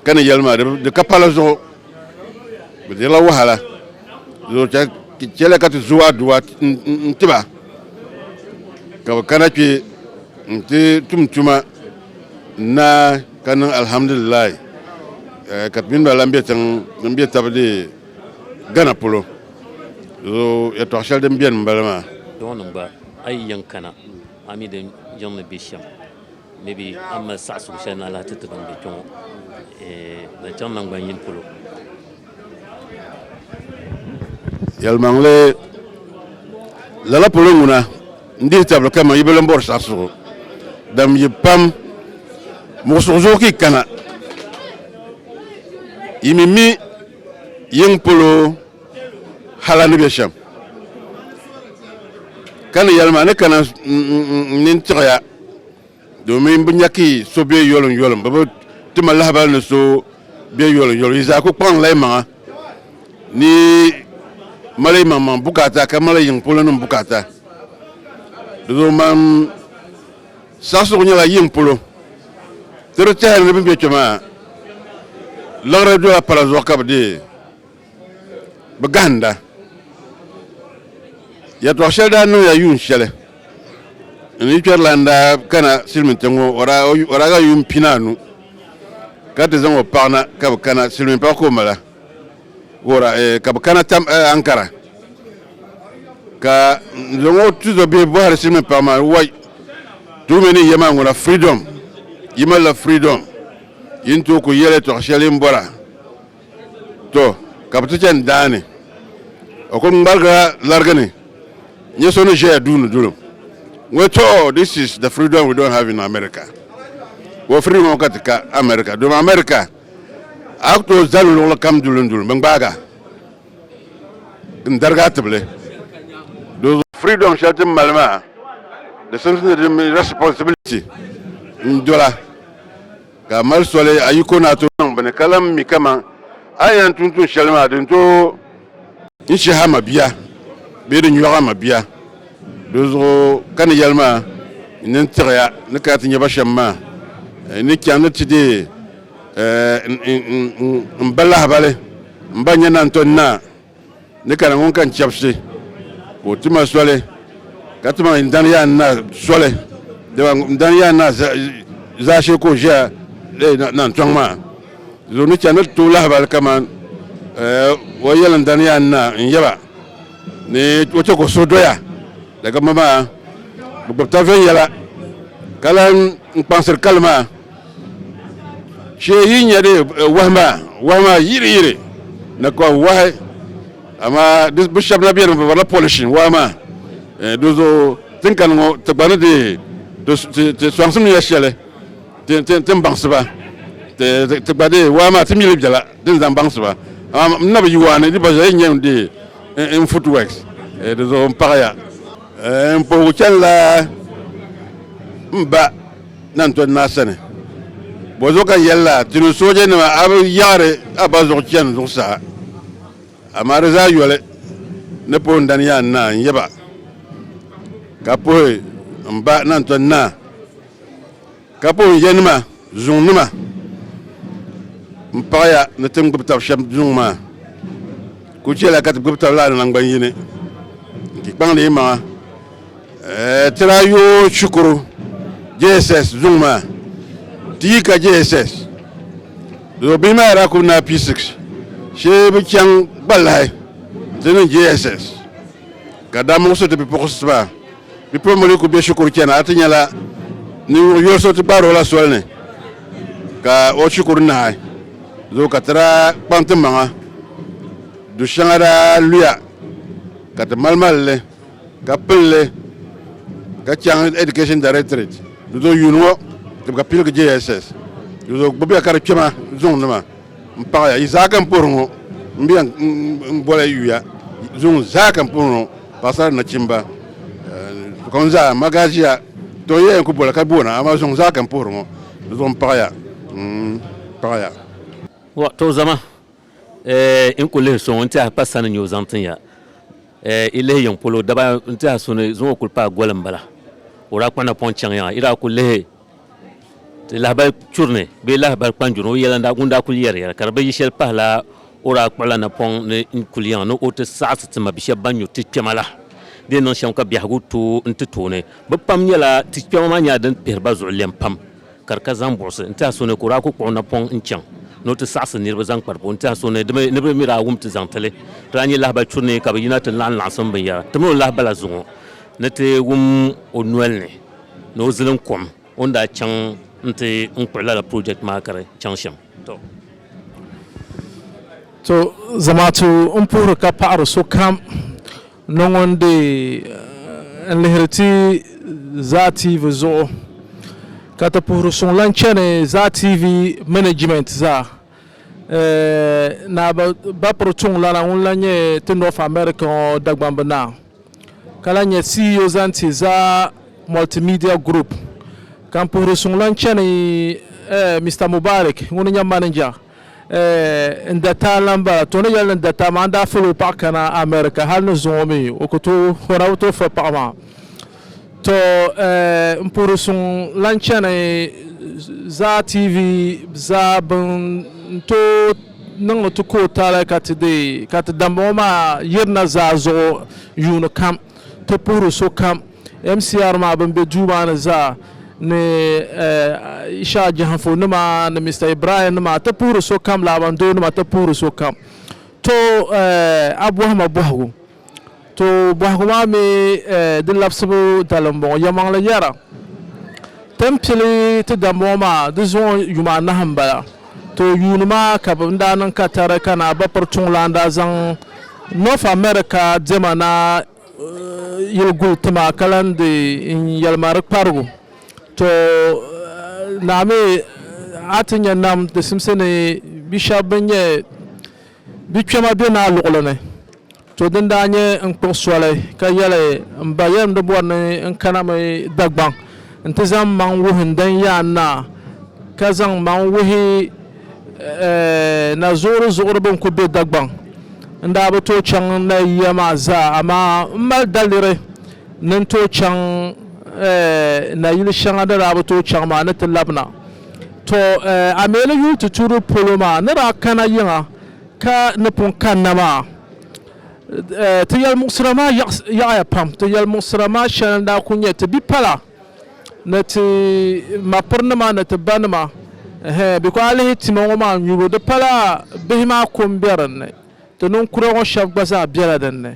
ka ni yɛli maa di ka pala zuɣu, bɛ dirila wahala, di zuɣu chɛliya ka ti zo aduwa n-ti ba ka bɛ kana kpe n-ti tum tuma n-naai ka niŋ alhamdulilahi ka ti mini ba lan be tiŋ din be tabi di Ghana polo zo yɛtɔɣ shɛli din beni m-bala maa. Dɔɔnim gba, a yi yɛn kana, a mi di yiŋ ni be shɛm. Maybe a mali saɣisigu shɛli ni a lahi ti ti ban be kpe ŋɔ zaŋchaŋ naŋgban yini polo. Yɛlimaŋli, Lala polo ŋuna n-dihi tabili kaman yi bi lan bɔri saɣisigu dam yi pam muɣisigu zuɣu ka yi kana, yi mi mi Yiŋ polo hal a ni be shɛm, ka ni yɛli ma, Ni kana n nini tiɣi ya, domin bɛ nya ka yi so be yoliŋyoliŋ, bɛ bi ti ma lahibal ni so be yoliŋyoliŋ. Yi zaa ku kpaŋla yimaŋa ni yi mali yimaŋmaŋ bukaata ka mali yiŋ polonim bukaata. Di zuɣu man. Saɣisirigu nyɛla yiŋ polo ti di tɛhili ni bɛ ni be kpe maa liɣiri dola pala zuɣu ka bɛ deei bɛ gahinda. Yɛtɔɣ shɛli daa niŋya yuun shɛli n ni kpɛrilana daa kana silimiintiŋ ŋɔ o daa ga yuun pinaanu ka ti zaŋ o paɣa na ka bɛ kana silimiinpaɣ ka o mala. Wora eh, ka bɛ kana tam eh, Ankara ka n zaŋ o tuzo bihi bɔhiri silimiin paɣa maa wai tuumi ni yɛma ŋuna freedom yi malila freedom yi ni tooi ku yɛli tɔɣ shɛli n bɔra to ka bɛ ti chani daani o kuli ŋmarigila larigi ni nyɛ so ni ʒɛya duuni dulim ŋɔ to oh, this is the freedom we don't have in America wɔ freedom ŋɔ ka ti ka America domi America A ku tooi zali luɣili kam duli duli mi n-gbaag a n-darig a tibili di zuɣu. Freedom shɛli ti ni mali maa di simsi ni di mini responsibility n-dola ka a mali soli a yiko ni a tooi niŋ bini ka lan mi kaman a ni yɛn tum tuun shɛli maa di ni tooi N shih a mabia bee di nyɔɣ a mabia, dinzuɣu ka ni yɛli ma, N ni tiɣi ya ni kana ti nya ba shɛm maa. N ni chaŋ ni ti deei m ba lahibali, m ba nya naan tɔn naa ni kana ŋun ka n chɛbisi, ka o ti ma soli, ka ti ma n dan yaan naa soli, dama m dan yaan naa zaashee ka o ʒiya naan tɔŋ maa. Zo ni chani ti tooi lahibali kaman eh, o yɛliŋdani yaa n-na n-yɛ ba ni o chɛ ka o suhu doya daga ma maa bi gbubi taba viɛnyɛla ka lan n kpaŋsiri kali maa shee yi nya di eh, wahi maa wahi maa yiri yiri na ka wahi amaa di bi shɛba na beni bi barila polishin wahi maa eh, di zo tinkani ŋɔ ti gba ni di ti ti ti sɔŋsim ya shɛli Ti ti ti baŋsi ba, ti ti ti gba dee waa maa ti mi li bela din zaŋ baŋsi ba. Amaa m na bi yi waa ni di gba zuɣu n yɛn dee n n footworks di zuɣu n paɣi ya. N puhigu chani la m ba Nantɔn Naa sani. Bɔzuɣu ka n yɛli la ti ni sooja nima a bi yaɣiri a ba zuɣu chani zuɣusaa. Amaa di zaa yoli ni puhi n dani yaa n naa n yaba ka puhi m ba Nantɔn Naa. Ka po n yanima zuŋ nima n paɣaya ni ti ni gbubi tab shɛm zuŋ maa, kul chɛla ka ti gbubi tab lala naŋgban yini n ti kpaŋdi yi maŋa ti daa yoo shikuru JSS zuŋ maa ti yi ka JSS do bihi maa daa kul naai P6 shee bi chaŋ gba lahi ti niŋ JSS ka daa muɣisi ti bipuɣisi maa Bipuɣimbila ku be shikuru chani a ti nyɛla ninvuɣ yoli so ti kpaari o la soli ni ka o shikuru nahi zo ka ti daa kpaŋ ti maŋa du shɛŋa daa luya ka ti malimali li ka pili li ka chaŋ Education Directorate di zo yuuni ŋɔ tibika piligi JSS di zo gbubiya ka di kpɛma zuŋnima. N paɣaya, yi zaa ka n puhiri ŋɔ, m be yan n boli yuya zuŋɔ zaa ka n puhiri ŋɔ, paɣasara ni nachimba, sokam zaa, ma gaa ʒiya, tɔ yiya yan ku boli ka boona, amaa zuŋɔ zaa ka n puhiri ŋɔ, di zuɣu n paɣaya, n paɣaya. Wah, tɔ zama, eh, n ku lihi so ŋɔ n tɛha kpa sani n-nyɛ o zaŋ tin ya, eh, yi lihi yiŋ polo, daba n tɛha so ni zuŋɔ kuli paai goli m-bala, o daa kpuɣi napɔŋ chaŋ yaŋa, yi daa ku lihi ti lahabali churi ni bee lahabali kpanjuri o yɛla ŋun daa kuli yɛri yɛra ka di bi yi shɛli pahila o daa kpuɣila napɔŋ ni n kuli yaŋa ni o ti saɣisi ti mabi shɛba ban nyuri ti kpɛma la di niŋ shɛm ka biɛhigu tooi n ti tooni bi pam nyɛla ti kpɛma maa nyɛla din kpihiri ba zuɣu lɛm pam ka di ka zaŋ buɣisi n tiɛha so ni ka o daa kuli kpuɣi napɔŋ n chaŋ ni o ti saɣisi niriba zaŋ kpari po n tiɛha so ni ni bi mi daa wum ti zaŋ tili ti daa nyɛ lahabali churi ni ka bi yina ti laɣim laɣisim binyɛra ti mini o lahabala zuŋɔ ni ti wum o noli ni ni o zilim kom o ni daa chaŋ n-ti n kpuɣi lala project maa ka di chaŋ shɛm. To zamaatu n puhiri ka paɣiri sokam ni ŋun di n lihiri ti Zaa TV zuɣu ka ti puhiri suŋ lahi chani Zaa TV management zaa. Naa Bapro Chung Lana ŋun lahi nyɛ ti North America ŋɔ Dagbamb naa ka lahi nyɛ CEO zaŋ ti Za Multimedia Group ka n puhiri suŋlan chani Mister Mubarik ŋuni nyɛ manager n dataa lan bala. To ni yɛli ni dataa maa n daa fali o paɣa kana America hali ni zuŋɔ mi o ku tooi hɔra o tooi fali paɣa maa. To n puhiri suŋ lan chani Zaa TV zaa bɛn tooi niŋdi ti ka o taali ka ti deei ka ti dambaŋɔ maa yirina zaa zuɣu yuuni kam ti puhiri sokam MCR maa bɛn be duu maa ni zaa ni Isha Jahanfo nima ni Mr Ibrahim nima ti puhiri sokam Laabandoo nima ti puhiri sokam to a bɔhima bɔhigu. To bɔhigu maa mi di labisibu dali m-bɔŋɔ, Yɛlimaŋli yɛra, Ti ni pili ti dambɔŋɔ maa di zuŋɔ yuma anahi m-bala. To yuuni maa ka bɛ ni daa niŋ katari ka Naabapiri Tuŋlan daa zaŋ North America diɛma naa yili guli ti ma ka lan di n yɛlima di kparigu. To naa mi a ti nya nam di simsi ni bi shɛba bɛn nyɛ Di kpɛma be naa luɣili ni. To din daa nyɛ n kpuɣi soli ka yɛli m ba yɛlim di bɔri ni n kana mi Dagbaŋ nti zaŋ m maŋ wuhi n dan yaan naa ka zaŋ m maŋ wuhi na zuɣuri zuɣuri bɛn kuli be Dagbaŋ. N daa bi tooi chaŋ n na yiya maa zaa amaa m mali daliri ni n tooi chaŋ na yili shɛŋa n ni daa bi tooi chaŋ maa ni ti labina. To a mi ni yuui ti tuuri polo maa ni daa kana yiŋa ka ni pun kanna maa, ti yɛlimuɣisira maa yaɣiya pam. Ti yɛlimuɣisira maa shɛli n-daa kuli nyɛ ti bipala ni ti mapirinima ni ti banima ɛhɛɛn bikɔɔ a lihi tima ŋɔ maa nyubu di pala bihi maa ko m-be din ni, ti ninkura ŋɔ shɛba gba zaa bela din ni.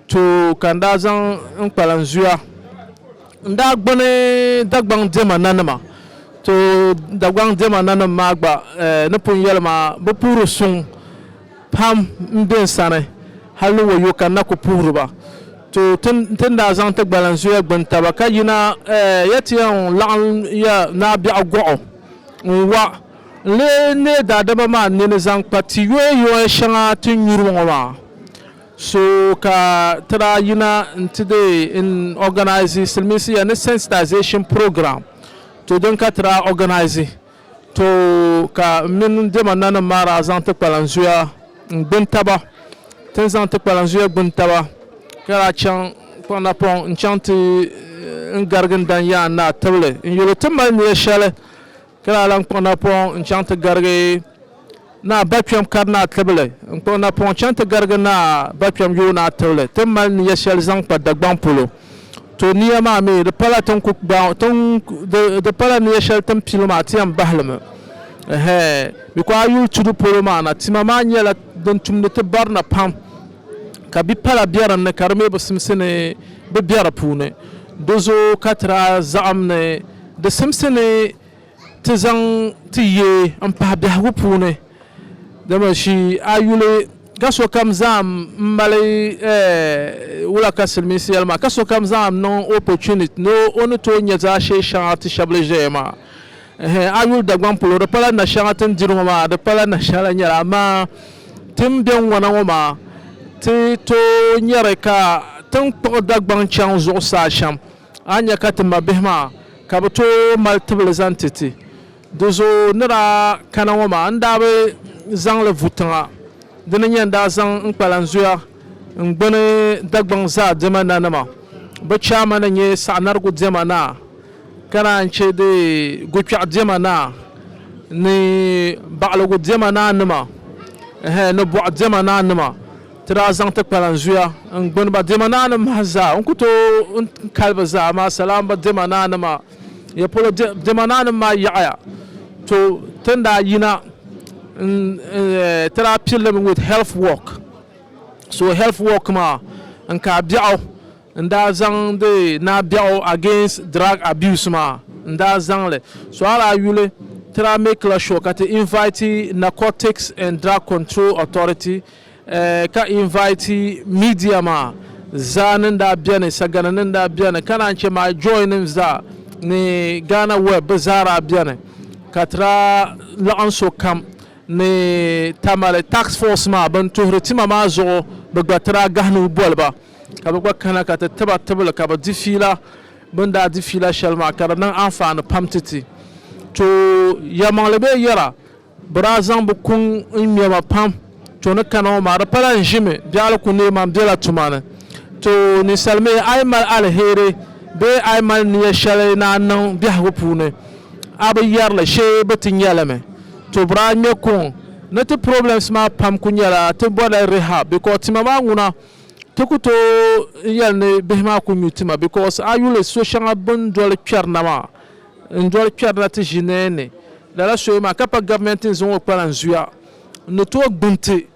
Too ka n daa zaŋ n kpalan zuya n daa gbuni Dagbaŋ diɛma nanima. Too Dagbaŋ diɛma nanim maa gba eh, ni pun yɛli maa, bi puhiri suŋ pam m-be n sani hal ni wayo ka n na ku puhiri ba. Too ti ti ni daa zaŋ ti gbalan zuya gbuni taba ka yina eh, ya ti yɛn laɣim ya Naa Biɛɣu Gɔɣu n-wa n lee neei daadama maa nini zaŋ kpa ti yoya yoya shɛŋa ti nyuri ŋɔ maa. So ka ti daa yina nti dee n organise silimiinsi ya ni sensitization program to din ka ti daa organise to ka m mini n dɛma nanim maa daa zaŋ ti kpalan zuya n gbuni taba tin zaŋ ti kpalan zuya gbuni taba ka daa chaŋ kpaŋ na pɔŋ n chaŋ ti n garigi n dan yaan naa tibili n yuli ti mali niya shɛli Ka daa lan kpuɣi napɔŋ n-chaŋ ti garigi Naa Bakpɛm Karinaa Tibili. N kpuɣi napɔŋ chaŋ ti garigi Naa Bakpɛm Yoonaa Tibili ti mali nia shɛli zaŋ kpa Dagbaŋ polo. To nia maa mi, di pala ti ni ku gbaai o, di pala nia shɛli ti ni pili maa ti yɛn bahi li mi. Ɛhɛɛ, mi ku a yuli tudu polo maa na, tima maa nyɛla din tumdi ti barina pam, ka bi pala be din ni ka di mi bi simsi ni bi be di puuni. Di zooi ka ti daa zaɣim ni Di simsi ni ti zaŋ ti ye m-pahi biɛhigu puuni, dama shi a yuli ka sokam zaŋm m-mali wula ka Silimiinsi yɛli maa, ka sokam zaŋm niŋ opportunity ni o ni tooi nya zaashee shɛŋa ti shɛb li ʒeya maa. Ɛhɛn, a yuli Dagbaŋ polo di pala nashɛŋa ti ni diri ŋɔ maa, di pala nashɛŋa lahi nyɛli amaa ti ni be ŋwana ŋɔ maa ti tooi nyari ka ti ni kpuɣi Dagbaŋ chaŋ zuɣusaa shɛm. A nya ka ti mabihi maa ka bɛ tooi mali tibili zaŋ ti ti. Di zuɣu ni daa kana ŋɔ maa n daa bi zaŋ li vu tiŋa. Di ni nya n daa zaŋ n kpalan zuya n gbuni Dagbaŋ zaa diɛma nanima. Bɛ chairman n-nyɛ Saɣinarigu diɛma naa ka naan che di Gukpɛɣu diɛma naa ni Baɣiligu diɛma naa nima ni Bɔɣu diɛma naa nima. Ti daa zaŋ ti kpalan zuya n-gbuni ba diɛma naa ni mahi zaa. N ku tooi n kali bɛ zaa, amaa salaam ba diɛma naa nima. Ya polo diɛma naa nim maa yaɣiya. To tin daa yina n ti daa piri li mi with health work. So health work maa n ka biɛɣu n daa zaŋdi naa biɛɣu against drug abuse maa n daa zaŋ li. So a daa yuli ti daa make la sure ka ti invite Narcotics and Drug Control Authority ka invite media maa zaa ni daa beni sagana ni daa beni ka naan che my joy nim zaa ni Ghana web bɛ zaa daa beni ka ti daa laɣim so kam ni Tamale tax force maa bɛn tuhiri tima maa zuɣu bɛ gba ti daa gahi nuu boli ba ka bɛ gba kana ka ti tiba tibili ka bɛ di fiila bɛn daa di fiila shɛli maa ka di niŋ anfaani pam ti ti too yɛlimaŋli bee yɛra Bɛ daa zaŋ bɛ kuŋ n-ŋme ma pam. To ni kana ŋɔ maa, di pala n ʒimi biɛɣili ku neei ma m-bela tuma ni. To ninsal mi, a yi mali aliheri bee a yi mali nia shɛli ni a niŋ biɛhigu puuni, a bi yɛri li shee bɛ ti nya li mi. To bɛ daa ŋme kuŋ ni ti problems maa pam ku nyɛla ti bɔrila rehab because tima maa ŋuna ti ku tooi n-yɛli ni bihi maa ku nyu tima because a yuli so shɛŋa bɛ ni doli kpɛri na maa N doli kpɛrila ti ʒini ni lala soya maa ka pa Gabimɛnti ni zaŋ o kpalan zuya n ni tooi gbuni ti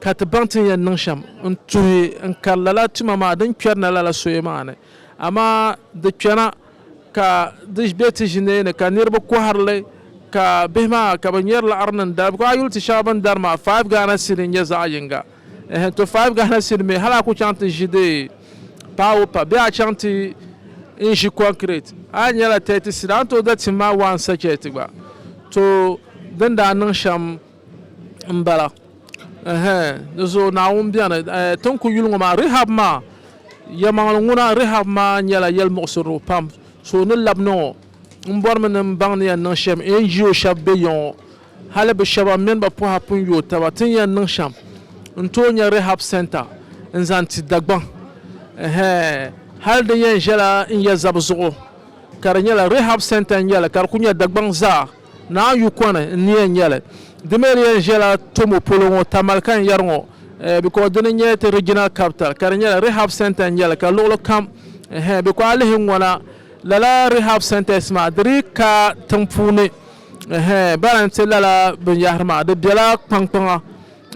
ka ti baŋ ti ni yɛn niŋ shɛm n tuhi n kari lala tuma maa din kpɛrina lala soya maa ni. Amaa di kpɛna ka di be ti ʒini ni ka niriba kɔhiri li ka bihi maa ka bɛ ŋmɛri laɣiri niŋ dali bikɔŋ a yi yuli ti shɛŋa bɛ ni dari maa five Ghana cedi n-nyɛ zaɣ yiŋga. Ɛhɛ, to five gahina sini mi, hali a ku chaŋ ti ʒi di paawo pa bee a chaŋ ti n ʒi kɔnkirɛt, a nyɛla thirty sini, a ni tooi da tim ma one sachɛt gba. To, din daa niŋ shɛm m-bala. Ɛhɛ, di zuɣu Naawuni beni. Ɛɛ, ti ni ku yuli ŋɔ maa, Rehab maa, yɛlimaŋli ŋuna, Rehab maa nyɛla yɛlimuɣisirili pam. So ni labina ŋɔ, m bɔrimi ni m baŋ ni yɛn niŋ shɛm NGO shɛba be ya ŋɔ Hali bɛ shɛba mini bɛ pɔha pun yooi taba ti ni yɛn niŋ shɛm n-tooi nya Rehab Centre n-zaŋ ti Dagbaŋ. Ɛhɛɛ hali di yɛn ʒɛla n ya zabi zuɣu ka di nyɛla Rehab Centre n-nyɛ li ka di kuli nyɛ Dagbaŋ zaa Naa Yukɔni n-ni yɛn nyɛ li. Di mi di yɛn ʒɛla Tomo polo ŋɔ Tamale ka n yɛri ŋɔ because dini n-nyɛ ti Regional Capital ka di nyɛla Rehab Centre n-nyɛ li ka luɣili kam ɛhɛɛ because a lihi ŋɔna lala Rehab Centres maa di dii ka tiŋ puuni Ɛhɛɛn, bɛ ni ti lala binyɛhiri maa, di bela kpaŋkpaŋa.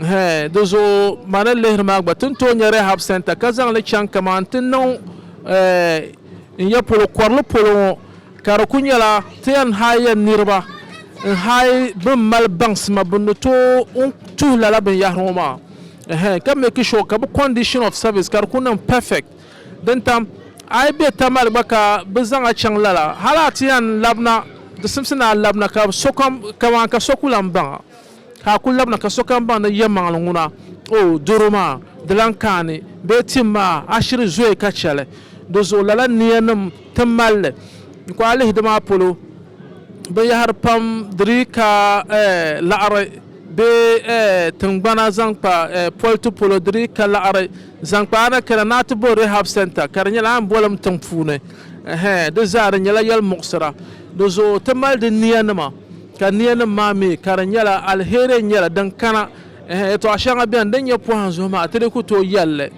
Ɛhɛɛn, di zuɣu ma ni lihiri maa gba, ti ni tooi nya Rehab Centre ka zaŋ li chaŋ kaman ti niŋ ɛɛh n ya polo, kɔrili polo ŋɔ, ka di kuli nyɛla ti yɛn haai ya niriba n-haai bɛ ni mali baŋsima bɛ ni tooi tuhi lala binyɛhiri ŋɔ maa. Ɛhɛɛn, ka meeki shuwa ka bɛ condition of service ka di kuli niŋ perfect. Din tam, a yi be Tamale gba ka bɛ zaŋ a chaŋ lala, hal a ti yɛn labina, di simsi ni a labina ka sokam, kaman ka so ku lan baŋ a, ka a ku labina ka sokam baŋ ni yɛlimaŋli ŋuna, O, doro maa, di lan kaani, bee tim maa, a shiri zooi ka chɛ li. Di zuɣu lala niyanim ti mali li. N ku a lihi di maa polo, binyɛhiri pam di dii ka laɣiri, bee tiŋgbana zaŋ kpa politi polo di dii ka laɣiri. Zaŋ kpa a ni kana ni a ti bo Rehab Centre ka di nyɛla Anbɔlim tiŋ puuni. Ɛhɛɛ, di zaa di nyɛla yɛli muɣisira. Di zuɣu ti mali di nia nima ka nia nim maa mi ka di nyɛla aliheri n nyɛli din kana. Ɛhɛɛ, yɛtɔɣa shɛŋa beni din nyɛ pɔhim zuɣu maa ti di ku tooi yɛli li.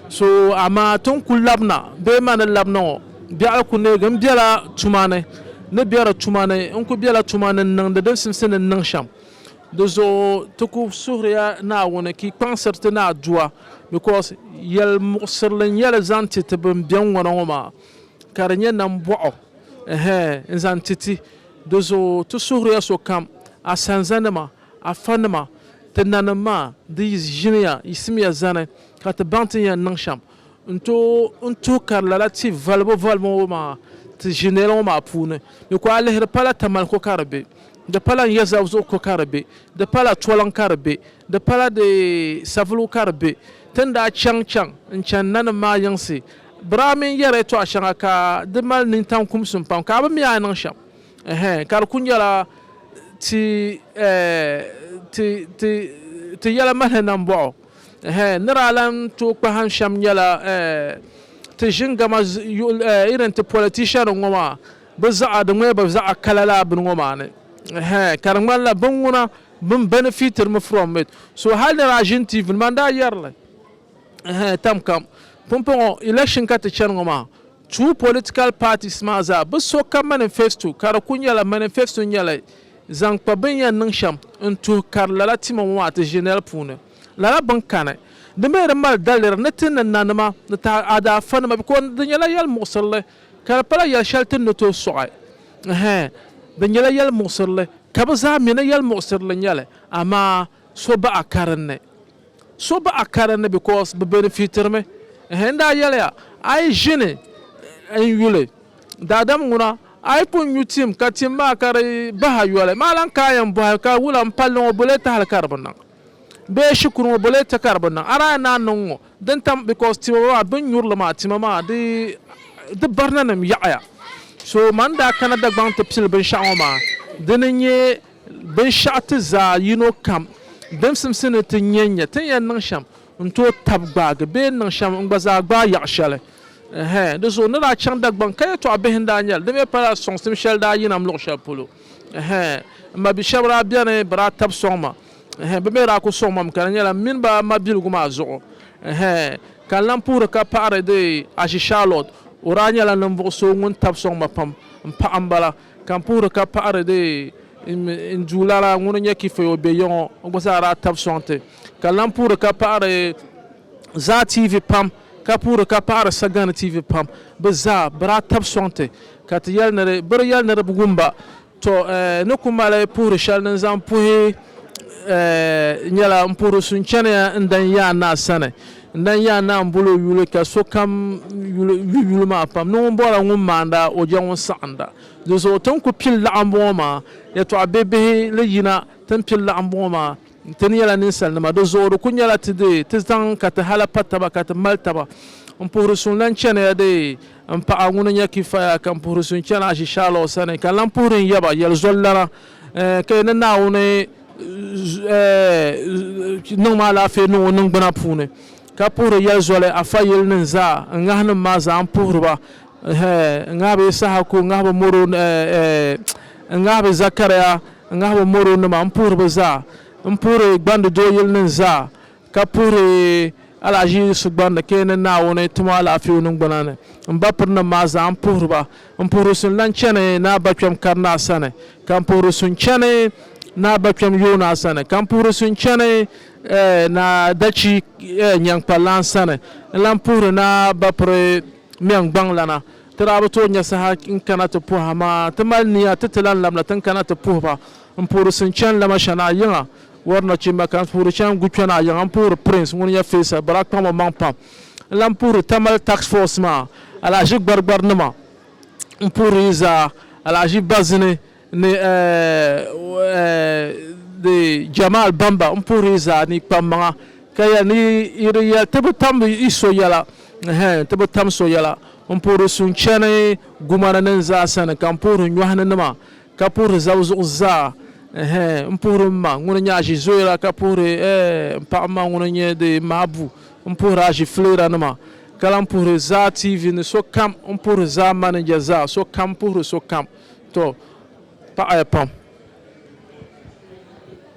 So amaa ti ni ku labina bee ma ni labina ŋɔ biɛɣu ku neegi n bela tuma ni ni bɛ di tuma ni n ku bela tuma ni n niŋdi din simsi ni n niŋ shɛm. Di zuɣu ti ku suhiriya Naawuni ka yi kpaŋsiri ti ni a Duwa, because yɛl muɣisirili n-nyɛ li zaŋ ti ti bɛn beni ŋɔ na ŋɔ maa, ka di nyɛ nambɔɣu n zaŋ ti ti. Di zuɣu ti suhiriya sokam, a sanzanima, a fanima, ti nanim maa, di yi ʒiniya, yiɣisimiya zani, ka ti baŋ ti ni yɛn niŋ shɛm. N tooi n tuhi kari lala ti valibu valibu ŋɔ maa ti ʒinɛli ŋɔ maa puuni. Di ku a lihiri pala Tamale ko ka di be, di pala Nyɛzab zuɣu ko ka di be, di pala Toliŋ ka di be, di pala di Savulugu ka di be. Ti ni daa chaŋ chaŋ n-chani nanim maa yiŋsi, biraa mini yɛree tɔɣa shɛŋa ka di mali nintaŋ kumsim pam ka a bi mi a ni niŋ shɛm ɛhɛn ka di ku nyɛla ti ti ti ti yɛla mahili nambɔɣu. Ɛhɛ, ni daa lan tooi kpahim shɛm nyɛla ɛɛ ti ʒin gama yuɣil ɛɛ irin ti politician ŋɔ maa bɛ zaɣa di ŋmɛya bɛ zaɣa kala laa bini ŋɔ maa ni. Ɛhɛ, ka di ŋmanila bini ŋuna bini benefitiri mi from it. So hali ni daa ʒini TV ni maa n daa yɛri li ɛhɛ tamkam pumpɔŋɔ election ka ti chani ŋɔ maa Two political parties maa zaa bi so ka manifesto ka di ku nyɛla manifesto nyɛla zaŋ kpa bini yɛn niŋ shɛm n tuhi kari lala tima ŋɔ maa ti ʒi nɛli puuni lala bini kani. Di mi di mali daliri ni ti ni nanima ni taada afa nima because di nyɛla yɛli muɣisirili ka di pala yɛli shɛli ti ni tooi sɔɣi hɛɛn di nyɛla yɛli muɣisirili ka bi zaa mi ni yɛli muɣisirili nyɛli amaa so baɣa karinli. So baɣ a karinli because bɛ benefitiri mi. N daa yɛliya, A yi ʒini n-yuli daadam ŋuna, a yi pun nyu tim ka tim maa ka di bahi a yoli, maa lan kaai yɛn bɔhi ka wula m-palli ŋɔ bole tahili ka di bi niŋ? Bee shikuru ŋɔ bole ti ka di bi niŋ? A daa yɛn naan niŋ ŋɔ din tam because tima maa bɛ ni nyuri li maa tima maa di barinanim yaɣiya. So man daa kana Dagbaŋ ti pili binshɛɣu ŋɔ maa, dini n-nyɛ Binshɛɣu ti zaa yino kam din simsi ni ti nya n-nya, ti ni yɛn niŋ shɛm n-tooi tab gbaagi bee n-niŋ shɛm n-gba zaa gbaai yaɣ shɛli. Ɛhɛn, di zuɣu n ni daa chaŋ Dagbaŋ ka yɛtɔɣ bihi n-daa nya li, di mi pala sɔŋsim shɛli daa yina m luɣ shɛli polo. Ɛhɛn, m ma bi shɛb daa beni bɛ daa tab sɔŋ ma. Ɛhɛn, bɛ mi daa ku sɔŋ ma mi ka di nyɛla m mini ba mabiligu maa zuɣu. Ɛhɛn, ka n lan puhiri ka paɣiri dee Ashi Charlotte, o daa nyɛla ninvuɣ so ŋun tab sɔŋ ma pam m paɣa m-bala. Ka n puhiri ka paɣiri di n Duw lala ŋun nyɛ kifaya o be yiŋɔ o gba zaa daa tab sɔŋti. Ka lan puhiri ka paɣiri Zaa TV pam ka puhiri ka paɣiri Sagani TV pam bɛ zaa bɛ daa tab sɔŋti ka ti yɛli ni di bɛ di yɛli ni di bi wum ba. Tɔ! Ni ku mali puhiri shɛli din zaŋ puhi nyɛla m puhiri su n chaniya n dan Yaa Naa sani. N daa yaa naa m-bol o yuli ka sokam yuli yu yuli maa pam ni ŋun bɔhiri ŋun maanda o jɛ ŋun saɣinda. Di zuɣu ti ni ku pili laɣimbɔŋɔ maa, yɛtɔɣ bihibihi li yina ti ni pili laɣimbɔŋɔ maa, Ti ni nyɛla ninsalinima, di zuɣu di ku nyɛla ti deei ti zaŋ ka ti hala pa taba ka ti mali taba. M puhiri suŋ lan chani ya deei m paɣa ŋuni n-nyɛ Kifaya ka m puhiri suŋ chani Azishaalaw sani ka n lan puhiri n yaba yɛli zɔlilana. Ka yi ni Naawuni niŋ ma alaafee niŋ o niŋgbuna puuni, ka puhiri yɛli zoli a fayilinim zaa, n ŋahinim maa zaa n puhiri ba, n ŋahi bɛ Yisahaku, n ŋahi bɛ Moro, n ŋahi bɛ Zɛkariya, n ŋahi bɛ Moronima, m puhiri bɛ zaa, m puhiri gbandi dooyilinim zaa, ka puhiri alahiʒi sugbani ni ka yi ni Naawuni ti ma alaafee o niŋgbuna ni, m ba pirinim maa zaa m puhiri ba. M puhiri su n-lan chani naa bakpɛm karinaa sani, ka m puhiri su n-chani naa bakpɛm yoonaa sani, ka m puhiri su n-chani naa dachi nyaŋkpallan sani, n lan puhiri naa bapiri mɛŋgbaŋlana. Ti daa bi tooi nya saha n kana ti puhi, amaa ti mali nia ti ti lan labina ti ni kana ti puhi ba. M puhiri su n-chani Lamashana yiŋa, Wari nachimba ka n puhiri chaŋ n gu kpɛna a yiŋa n puhiri Prince ŋun nyɛ Faisal bɔri a kpaŋmi maŋ pam n lan puhiri Tamale Task Force maa alahaʒi Gbarigbar nima n puhiri yi zaa alahaʒi Bazini ni di Jamal Bamba n puhiri yi zaa ni yi kpam maŋa ka yɛli ni yi di yɛli ti bi tam yi so yɛla ɛhɛn ti bi tam so yɛla n puhiri Suŋ Chani Gumani nin zaa sani ka m puhiri Nyɔhini nima Ka puhiri zab zuɣu zaa, Ɛhɛɛ, m puhiri m ma ŋuni nyɛ aʒizoyira, ka puhiri, Ɛɛh, m paɣ m ma ŋuni nyɛ di mabu, m puhiri aʒifiliranima, ka lan puhiri zaa TV ni sokam, m puhiri zaa maninja zaa, sokam puhiri sokam. Tɔ! Paɣiya pam.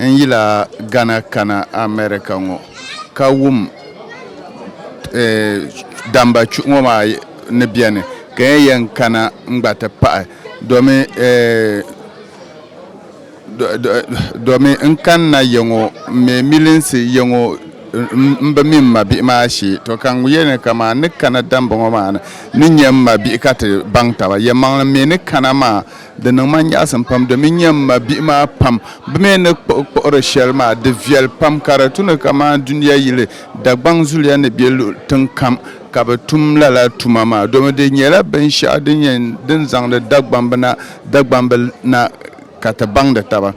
N yila Ghana kana America ŋɔ ka wum damba chuɣu ŋɔ maa ni beni ka n yɛn kana n gba ti pahi domi domi n kanna yiŋɔ m me milinsi yiŋɔ m bi mi m mabihi maa shee to ka n yɛli ni kaman n ni kana damba ŋɔ maa ni n ni nya m mabihi ka ti baŋ taba yɛmaŋli me ni kana maa. Di niŋ ma nyaɣisim pam domin n-nya m ma bihi maa pam bɛ mi ni kpuɣi kpuɣiri shɛli maa di viɛli pam ka di tu ni kamani dunia yili Dagbaŋ zuliya ni be luɣ tiŋ kam ka bɛ tum lala tuma maa domin di nyɛla binshɛɣu din nyɛ din zaŋdi Dagbambina Dagbamb na ka ti baŋdi taba.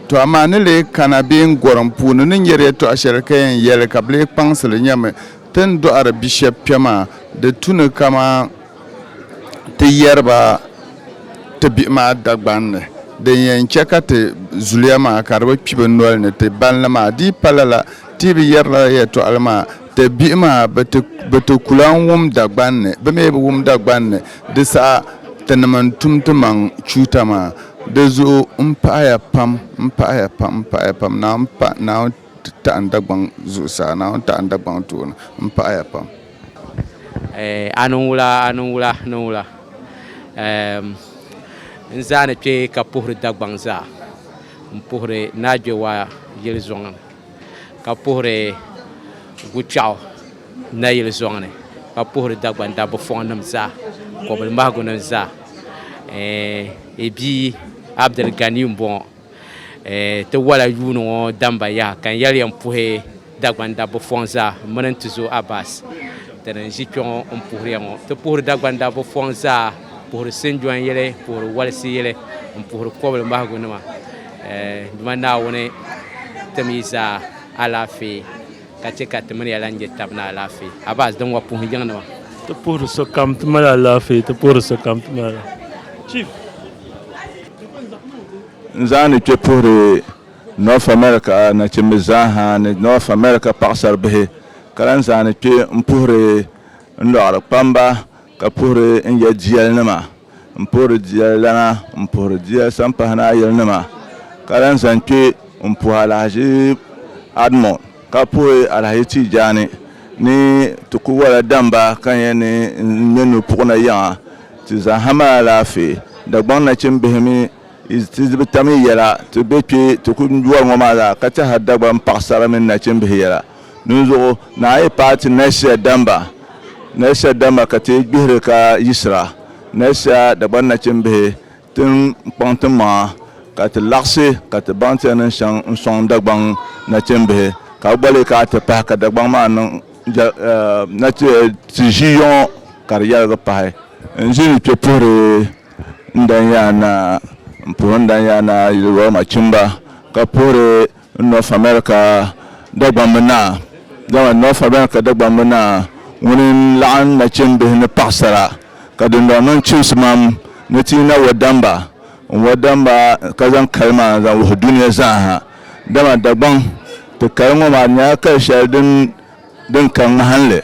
Tɔ amaa ni lee kana bee n gɔrim puuni ni nyari yɛtɔɣ shɛli ka yɛn yɛli ka bɛ lee kpaŋsi li nyami ti ni dɔɣiri bishɛb kpɛm maa di tu ni kamani ti yɛri ba ti bihi maa Dagban ni. Din yɛn chɛ ka ti zuliya maa ka di bi kpi bɛ noli ni ti bani li maa di yi pa lala, ti yi bi yɛri lala yɛtɔɣili maa, ti bihi maa bɛ ti ku lan wum Dagban ni. Bɛ mi bi wum Dagban ni, di saha tinim n-tum ti maŋ chuuta maa. Di zuɣu m pahia pam, m pahia pam, m pahia pam, Naawuni taɣi n Dagbaŋ zuɣusaa, Naawuni taɣi n Dagbaŋ tooni, m pahia pam. Eh, a niŋ wula, a niŋ wula, niŋ wula. Ehm, n zaa ni kpe ka puhiri Dagbaŋ zaa, n puhiri Naagbewa yili zɔŋ ni, ka puhiri Gukpɛɣu nayili zɔŋ ni, ka puhiri Dagbaŋ dabbifɔŋ nim zaa, kɔbilimahigu nim zaa. Eh, i bia Abdul Ganiyu m-bɔŋɔ. Ti wala yuuni ŋɔ damba yaha ka n yɛli ya m-puhi Dagban dabba fɔŋ zaa m-mini n tizo Abbas ti ni ʒi kpɛŋɔ m-puhiri ya ŋɔ. Ti puhiri Dagban dabba fɔŋ zaa, puhiri sinjɔn yili, puhiri walisi yili, m-puhiri kɔbili mahigu nima. Duma Naawuni tim yi zaa alaafee. ka chɛ ka ti mini ya lan je tab ni alaafee. Abaz din wa puhi yiŋnima. Ti puhiri sokam ti mali alaafee, ti puhiri sokam ti mali alaafee. Chief. N zaani kpe puhiri North America nachimbi zaa ha ni North America paɣasaribihi, ka lan zaani kpe m-puhiri n lɔɣiri kpamba, Ka puhiri n ya jiɛlinima, m puhiri jiɛlilana, m puhiri jiɛl sampahinayilinima, ka lan zaŋ kpe m-puhi alahichi Admɔ, ka puhi alahichi Tiijaani ni ti ku wala damba ka nya ni n ŋme nu puɣina yiŋa. Ti zaŋ ha mali alaafee. Dagbaŋ nachimbihi mi, ti bi tam yi yɛla, ti be kpe ti ku wari ŋɔ maa zaa, ka ti ha Dagbaŋ paɣisara mini nachimbihi yɛla. Dinzuɣu na a yi paai ti Nɛsia damba, Nɛsia damba ka ti gbihiri ka yiɣisira Nɛsia Dagban nachimbihi tin kpaŋ ti maŋa, ka ti laɣisi ka ti baŋ ti ni chaŋ n-sɔŋ Dagbaŋ nachimbihi, ka a gba leei ka a ti pahi ka Dagbaŋ maa niŋ ti ʒii yɔŋɔ ka di yɛligi pahi. N ʒi ni kpe puhiri n dan ya naa, m-puhiri n dan ya naa yili Roma chimba, ka puhiri North America Dagbamb Naa, Dama North America Dagbamb Naa ŋuni n-laɣim nachimbihi ni paɣisara ka dindɔŋ niŋ chimsimam ni ti yi na wa damba n-wa damba ka zaŋ kali maa n-zaŋ wuhi dunia zaa ha. Dama Dagbaŋ ti kali ŋɔ maa di nyɛla kali shɛli din din ka ŋmahinli.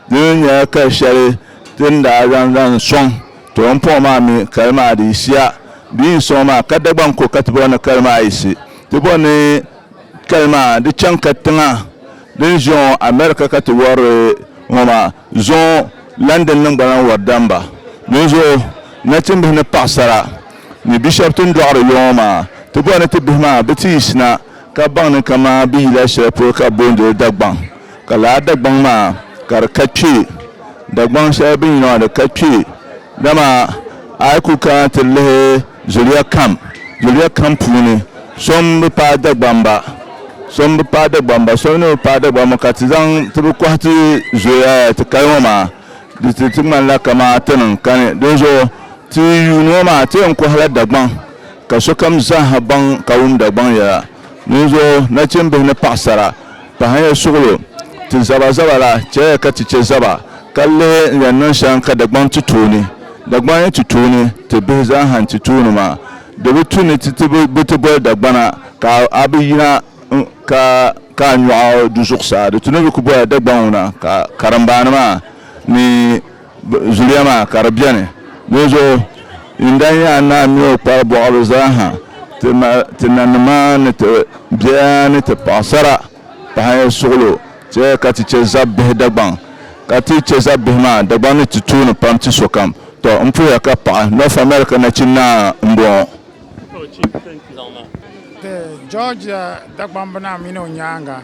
Dini nyɛla ka shɛli ti ni daa zaŋ zaŋ sɔŋ ti o ni pɔŋ maa mi kali maa di yisiya bee n sɔŋ maa ka Dagbaŋ ko ka ti bɔri ni kali maa yisi. Ti bɔri ni kali maa di chaŋ ka tiŋa din ʒe ŋɔ America ka ti wɔri li ŋɔ maa zuɣu London nim gba lahi wɔri dam ba. Dinzuɣu nachimbihi ni paɣisara ni bishop ti ni dɔɣiri yo ŋɔ maa ti bɔri ni ti bihi maa bi ti yisina Ka baŋ ni kaman bɛ yila shɛli polo ka bɛ booni li Dagbaŋ, ka lala Dagbaŋ maa ka di ka kpe, Dagbaŋ shɛli bɛ ni yina maa di ka kpe. Dama a yi kul kana ti lihi zuliya kam, zuliya kam puuni so m-bi paai Dagbamba, so m-bi paai Dagbamba, so mi ni bi paai Dagbamba ka ti zaŋ ti bi kɔhi ti zuliya ti kali ŋɔ maa, di ti ti ŋmanila kaman ti ni n-kani. Dinzuɣu ti yuuni ŋɔ maa ti yɛn kɔhila Dagbaŋ, Ka sokam zaaha baŋ ka wum Dagbaŋ yɛla. Dinzuɣu, nachimbihi ni paɣisara, pahiyɛ suɣilo, ti zabazaba la, chɛliya ka ti chɛ zaba, ka lihi n yɛn niŋ shɛŋa ka Dagbaŋ ti tuuni. Dagbaŋ n-nyɛ ti tuuni, ti bihi zaaha n-ti tuuni maa. Di bi tu ni ti ti bi ti boli Dagbana ka a bi yina ka ka a nyɔɣu du zuɣusaa. Di tu ni bi ku bola Dagbaŋ ŋuna ka karimbaani maa ni Zuliya maa ka di beni. Dinzuɣu yinda n-yɛn a naai mi o kpar bɔɣiri zaa ha ti ma ti nanima ni ti biɛya ni ti paɣisara pahi suɣilo chɛ ka ti chɛ zab bihi Dagbaŋ. Ka ti chɛ zab bihi maa Dagbaŋ ni ti tuuni pam ti sokam. Tɔ! M puhiya ka paɣi North America nachin naa m-bɔŋɔ. Georgia Dagbaŋ binaa mini o nyaaŋa.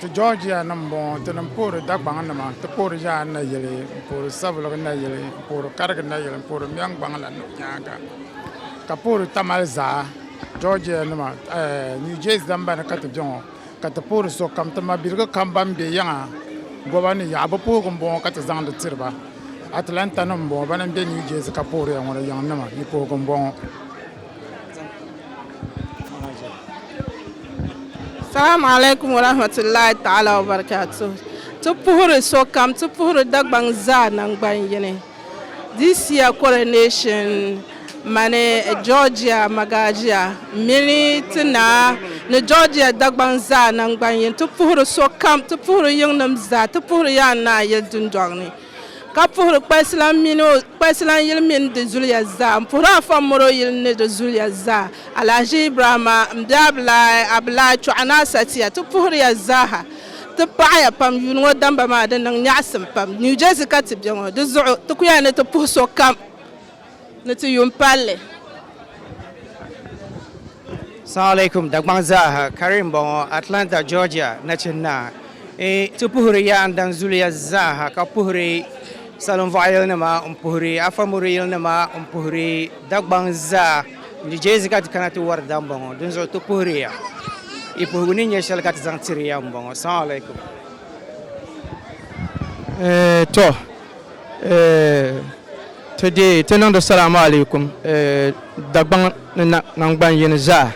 Ti Georgia nim m-bɔŋɔ, ti ni puhiri Dagbaŋ nima, ti puhiri Ʒaan nayili, m-puhiri Saviligi nayili, m-puhiri Karigi nayili, m-puhiri Miɛŋgbaŋ la ni nyaaŋa, ka puhiri Tamale zaa, Georgia nima, New Jersey zambani ka ti be ŋɔ, ka ti puhiri sokam, ti mabiligi kam ban be yiŋa goba ni yaɣa, bɛ puhigu m-bɔŋɔ ka ti zaŋdi tiri ba. Atlanta nim m-bɔŋɔ, bana m-be New Jersey ka puhiri ya ŋɔ ni yiŋ nima, yi puhigu m-bɔŋɔ. Salaam alaikum wa rahmatullahi ta'ala wa barakatuh. Ti puhiri sokam, ti puhiri Dagbaŋ zaa nangban yini. This year coronation mani Georgia Magagia mini ti naa ni Georgia Dagbaŋ zaa nangban yini. Ti puhiri sokam, ti puhiri yiŋnim zaa, ti puhiri Yaa Naa yili dundɔŋ ni. Ka puhiri kpalsilan mini o kpalsilan yili mini di zuliya zaa. M puhiri afa m mɔri o yili ni di zuliya zaa. Alahaji Ibrahima m be Abilahi Abilahi Chɔɣu Naa Satiya ti puhiri ya zaaha. Ti paɣi ya pam yuuni ŋɔ damba maa di niŋ nyaɣisim pam. New Jersey ka ti be ŋɔ di zuɣu ti ku yaa ni ti puhi sokam. ni ti yuun palli. Salaam alaikum Dagbaŋ zaaha Karim m-bɔŋɔ Atlanta Georgia nachin naa. Ti puhiri ya n daŋ zuliya zaaha ka puhiri salinvɔɣiyilinima n puhiri afamuriyilinima n puhiri Dagbaŋ zaa New Jersey ka ti kana ti wari daa m-bɔŋɔ dinzuɣu ti puhiri ya yi puhigu ni nyɛ shɛli ka ti zaŋ tiri ya m-bɔŋɔ Salaam alaikum. Tɔ. Ti deei ti niŋdi salaamu alaikum Dagbaŋ ni naŋgban yini zaa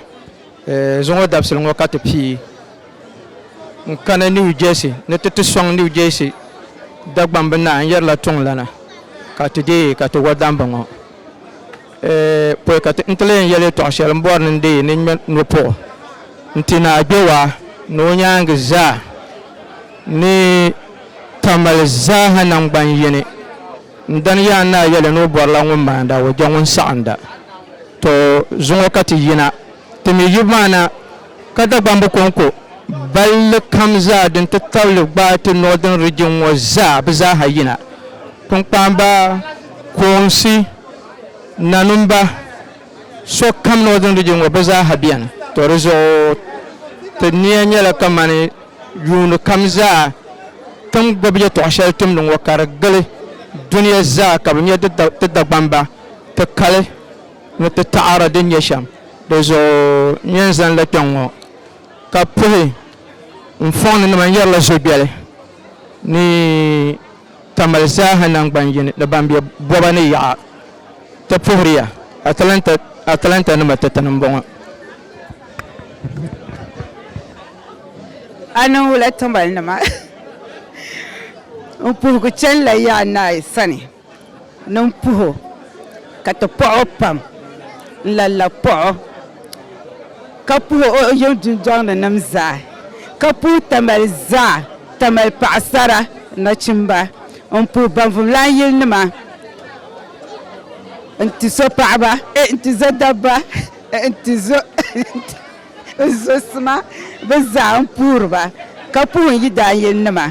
zuŋɔ dabisili ŋɔ ka ti pii n-kani New Jersey ni ti ti sɔŋ New Jersey Dagbamb naa n-yɛrila tiŋlana ka ti deei ka ti wa dambi ŋɔ. Pɔi ka n ti leen yɛli yɛtɔɣ shɛli m-bɔri ni n deei ni ŋme nɔpuɣu n-ti Naa Gbewaa ni o nyaaŋa zaa ni Tamale zaaha naŋgban yini. N dani Yaan Naa yɛli ni o bɔrila ŋun maanda o je ŋun saɣinda. Tɔ! Zuŋɔ ka ti yina, ti mi yubu maa na, ka Dagbamb kɔŋko balli kam zaa di nti tabili gbaai ti Northern Region ŋɔ zaa bɛ zaaha yina, kpiŋkpaamba, koonsi, nanumba. So kam Northern Region ŋɔ bɛ zaaha beni. To di zuɣu ti niya nyɛla kamani yuuni kam zaa ti ni gbubi yɛtɔɣ shɛli tumdi ŋɔ ka di gili dunia zaa ka bɛ nya ti Dagbamba, ti kali ni ti taɣiri din nyɛ shɛm. Di zuɣu n yɛn zanila kpɛŋ ŋɔ ka puhi n fɔŋninima n yɛrila zobiɛli ni. ka mali zaaha naŋgban yini ni ban be boba ni yaɣa ti puhiri ya Atlanta Atlanta nima ti tani m-bɔŋɔ. A niŋ wula tiŋbali nima n puhigu chani la yaɣa naai sani ni m puhi o ka ti pɔɣi o pam n lalla pɔɣi o. ka puhi o yiŋ dundɔŋni nim zaa, ka puhi Tamale zaa, Tamale paɣasara, nachimba, n puhi banvumlan yili nima, n ti zo paɣaba, n ti zo dabba, n ti zo n zo sima bɛ zaa n puhiri ba, ka puhi n yidaanyilinima,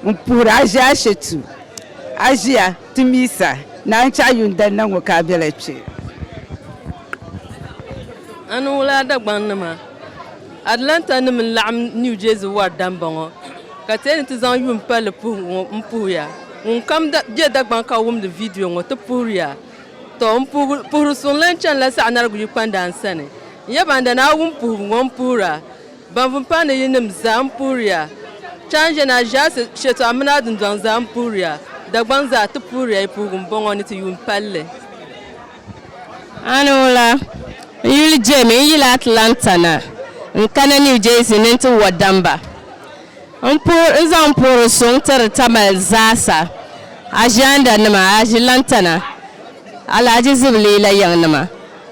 n puhiri Aʒiashatu, Aʒia. Ti mi sa, naan chɛ a yuun dali na ŋɔ ka a bela kpe. A ni wul a Dagbaŋnima, Atlanta nim n laɣim New Jersey wari dambɔŋɔ ka ti yɛn ni ti zaŋ yuun palli puhigu ŋɔ n puhi ya. Ŋun kam be Dagbaŋ ka wumdi vidiyo ŋɔ ti puhiri ya. Tɔ! N puhiri suŋ lan chanila saɣinarigu yi kpandaan sani. N yaba n dana a wum puhigu ŋɔ m puhira. Ban vun paŋ ni yinim zaa m-puhiriya, Chani ʒiɛni Aʒiasi shɛtɔɣu mini a dundɔŋ zaa m-puhiriya, Dagbaŋ zaa ti puhiriya yi puhigu m-bɔŋɔ ni ti yuun palli. Ani ŋuna, n yuli Jamie, n yila Atlanta na, n kana New Jersey ni n ti wa damba. N puhi, n zaŋ n puhiri suŋ tiri Tamale zaasa, Aʒiandanima, Aʒilantana, Alahaji Zibiliyi la yiŋnima.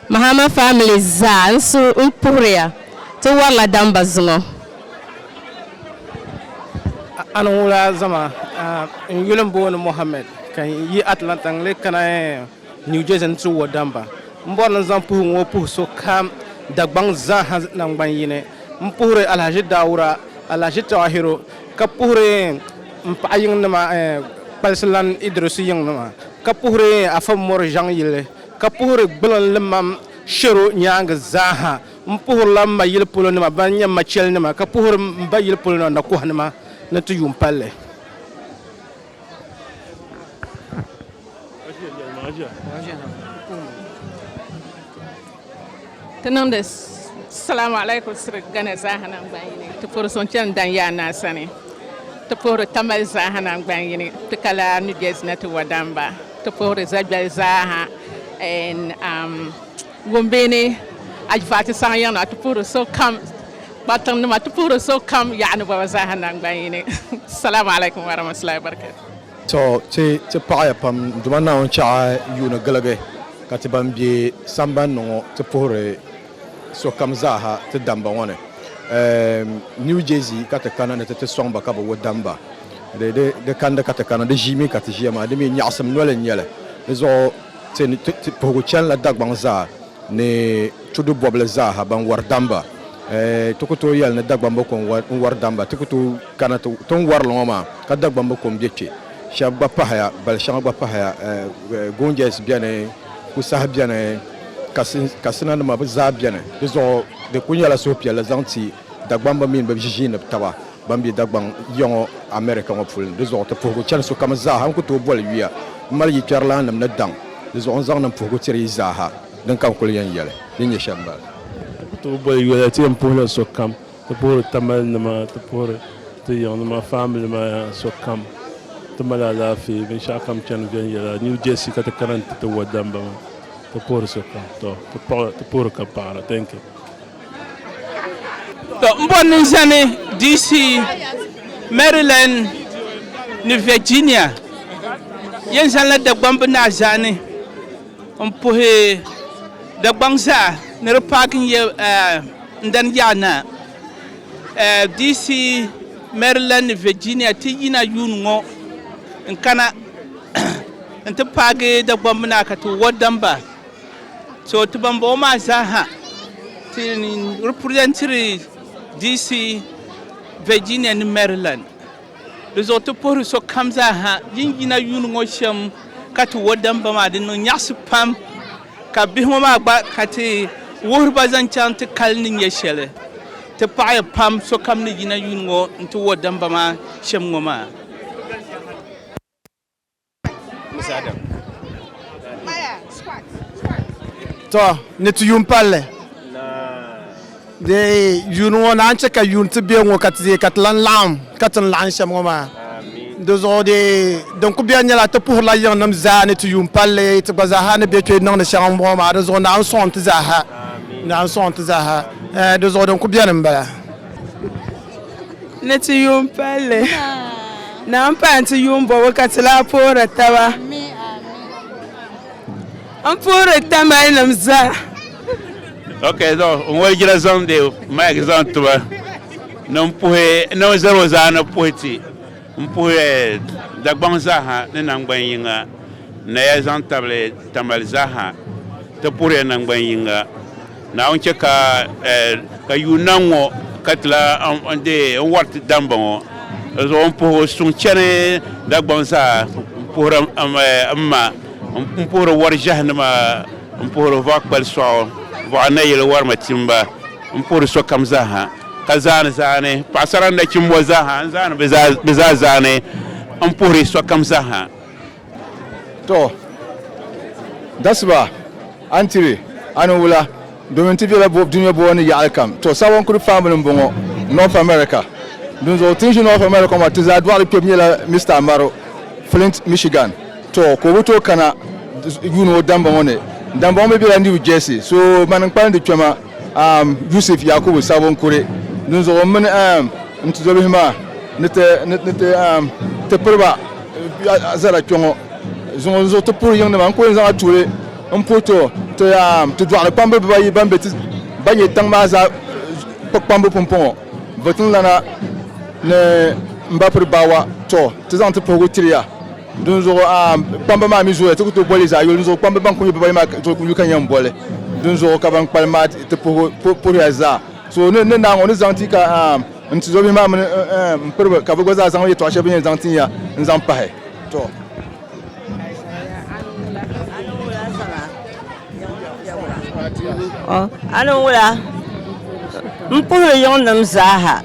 Mahama family zaa n su n puhiriya ti warila damba zuŋɔ. A ni wula zama n yuli n booni Mohammed ka n yi Atlanta n lee kana New Jersey ni ti wo damba. M bɔri ni n zaŋ puhigu ŋɔ puhi so kam Dagbaŋ zaa ha nangban yini. M puhiri Alhaji Daawura, Alhaji Tahiru ka puhiri m paɣa yiŋ nima Kpalisilan Idirisu yiŋ nima ka puhiri Afa Mori Zhaŋ yili ka puhiri gbulinlimam shero nyaangi zaaha. M puhirila m ma yili polo nima ban nyɛ m ma chɛlinima, ka puhiri m ba yili polo nima nakɔhanima ni ti yuun palli. Ti niŋdi Salaam Alaikum siri Ghana zaaha nangban yini, ti puhiri suŋ chani Danyaa Naa sani, ti puhiri Tamale zaaha nangban yini, ti ka laa New Jersey na ti Wadamba, ti puhiri Zagbel zaaha en am Gombe ni Ajifati saha yiŋ na, ti puhiri sokam Kparitin nima, ti puhiri sokam Yaɣa ni Bɔba zaaha nangban yini. Salaam Alaikum Warahmatullahi Wabarakatuh. Tɔ! Ti, ti paɣiya pam Duuma Naawuni chɛɣu yuuni giligi, ka ti ban be samban ni ŋɔ ti puhiri sokam zaaha ti damba ŋɔ ni. Eem, New Jersey ka ti kana ni ti ti sɔŋ ba ka bɛ wo damba. Di, di, di kandi ka ti kana. Di ʒii mi ka ti ʒiya maa. Di mi nyaɣisim noli n-nyɛ li. Di zuɣu ti, ti, ti puhigu chanila Dagbaŋ zaa ni tudu bɔbili zaaha ban wari damba. Eeh, ti ku tooi yɛli ni Dagbamba ko n-wari, n-wari damba. Ti ku tooi. Kana ti tin warili ŋɔ maa ka Dagbamba kom be kpe shɛb gba pahaya bali shɛŋa gba pahaya Gonjais beni Kusahi beni Katsina nima bɛ zaa beni di zuɣu di kuli nyɛla suhupiɛlli zaŋ ti Dagbamba mini bɛ ʒiʒiinib taba ban be Dagbaŋ ya ŋɔ America ŋɔ puli ni di zuɣu ti puhigu chani sokam zaa ha n ku tooi boli yuya m mali yikpɛrilaannim ni daŋ di zuɣu n zaŋ niŋ puhigu tiri yi zaa ha din ka n kuli yɛn yɛli din nyɛ shɛm bala. N ku tooi boli yuya ti yɛn puhila sokam. Ti puhiri Tamale nima, ti puhiri ti yiŋ nima, family maa sokam. Ti mali alaafee, binshɛɣu kam chani viɛnyɛla. New Jersey ka ti kana n-ti ti wadamba maa. Ti puhiri sokam. Tɔ! Ti puhiri ka paɣira. Thank you. Tɔ! M bɔri ni n zani DC, Maryland ni Virginia. Yɛn zaŋ la Dagbamb Naa zaa ni m puhi Dagbaŋ zaa ni di paaki n-yɛ. N dani yaa naa, DC, Maryland ni Virginia ti yina yuun ŋɔ n-kana nti paagi Dagbamba naa ka ti wɔddam ba. So ti ban bɔŋɔ maa zaa ha ti representiri DC, Virginia ni Maryland. Di zuɣu ti puhiri sokam zaa ha din yina yuuni ŋɔ shɛm ka ti wuhi damba maa di niŋ nyaɣisi pam ka bihi ŋɔ maa gba ka ti wuhiri ba zaŋ chaŋ ti kali ni nyɛ shɛli. Ti paɣiya pam sokam ni yina yuuni ŋɔ nti wuhi damba maa shɛm ŋɔ maa. To ni ti yuun palli dee yuun ŋɔ naan chɛ ka yuun ti be ŋɔ ka ti dee ka ti lan laɣim ka ti ni laɣim shɛm ŋɔ maa di zuɣu dee din kuli beni nyɛla ti puhirila yiŋnim zaa ni ti yuun palli ti gba zaa ha ni be kpe niŋdi shɛŋa m-bɔŋɔ maa di zuɣu naawuni sɔŋ nti zaa ha naawuni sɔŋ nti zaa ha di zuɣu din kuli beni m-bala. ni ti yuun palli naan pahi ti yuun bɔbu ka ti lahi puhiri taba n puhiri tamali nim zaa ok so n walijira zaŋdi mike zaŋ tiba ni n puhi ni n zali o zaa ni puhi ti M puhiya Dagbaŋ zaaha ni naŋgban yiŋa naya zaŋ tabili Tamale zaaha ti puhiya naŋgban yiŋa. Naawuni chɛ ka ka yuunna ŋ-ŋɔ ka ti la n wɔri ti dambɔŋɔ. Di zuɣu m puhi o suŋ chani Dagbaŋ zaa m-puhiri m ma, m puhiri wɔri ʒiɛhi nima m-puhiri vɔɣ'kpali sɔɣu, vɔɣ'nayili wɔri matimba. m-puhiri sokam zaaha, ka zaani zaani paɣisara ni nachimbo zaaha n-zaani bɛ zaa zaani m-puhiri sokam zaaha. Tɔ! Dasiba! A ni tiri, a ni wula, domin ti bela dunia bɔbu ni yaɣili kam. Tɔ! Sabon kuri paanbili m-bɔŋɔ, North America. Dinzuɣu ti ni ʒi North America ŋɔ maa, ti zaa dɔɣili kpɛbu nyɛla Mister Amaro, Flint, Michigan. Tɔ! Ka o bi tooi kana yuuni o damba ŋɔ ni. Damba ŋɔ mi bela New Jersey. So! Mani n-kpalim di kpɛma. Yusuf Yakubu sabu n kuri, dinzuɣu m mini n tuzobihi maa ni ti piri ba zara kpe ŋɔ zuŋɔ. Dinzuɣu ti puhi yiŋnima n-kuli zaŋ a tuuli m-puhi ti ti dɔɣiri kpamba bibaayi ban be ti ba nyɛ tiŋ maa zaa kpukpambu pumpɔŋɔ, Votiŋlana ni Mbapiri Baawa. Tɔ! Ti zaŋ ti puhigu tiri ya. Dinzuɣu a kpamba maa mi zooya, ti ku tooi boli zaɣ yoli. Dinzuɣu kpamba ban kuli nyɛ bibayi maa tooi ku yu ka nya m-boli. Dinzuɣu ka ban kpalim maa ti puhiya zaa. So ni ni naai ŋɔ, o ni zaŋ ti ka n tizɔbihi maa mini m piriba ka bɛ gba zaa zaŋ yɛtɔɣ shɛli bɛ ni yɛn zaŋ tin ya n-zaŋ pahi. A ni wula m puhili yiŋnim zaaha,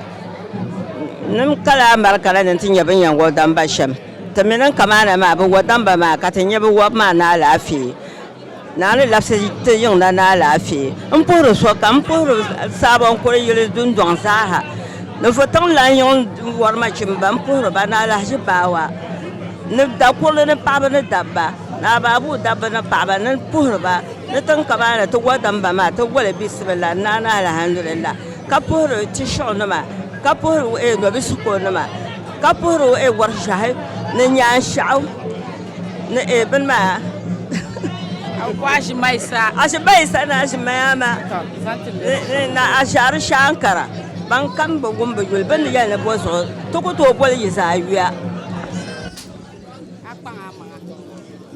nim kala amarika la ni ti nya binyɛŋgoli damba shɛm. Ti mi niŋ kamaana maa bi wɔdamba maa ka ti nya bi wɔbu maa ni alaafee. Naani labisi ti yiŋ na ni alaafee. M puhiri sokam, m puhiri saabo n kuli yili dundɔŋ zaaha. Ninvuɣ tiŋ lan yiŋ wɔri nachimba m puhiri ba ni alahiʒi baawa ni dakurili ni paɣaba ni dabba ni abaabuu dabba ni paɣaba ni puhiri ba ni tiŋ kamaana ti wɔdamba maa ti wɔli bisimilah ni naani alhamdulilah ka puhiri ti shuɣu nima ka puhiri nɔbisi ko nima. ka puhiri o e wari ʒahi ni nyaanshaɣu ni e bini maa aʒimaisa aʒimaisa ni aʒimayama ni na aʒari shaankara ban kam bi wum bi yuli bini yɛli ni bo zuɣu ti ku tooi boli yi zaa yuya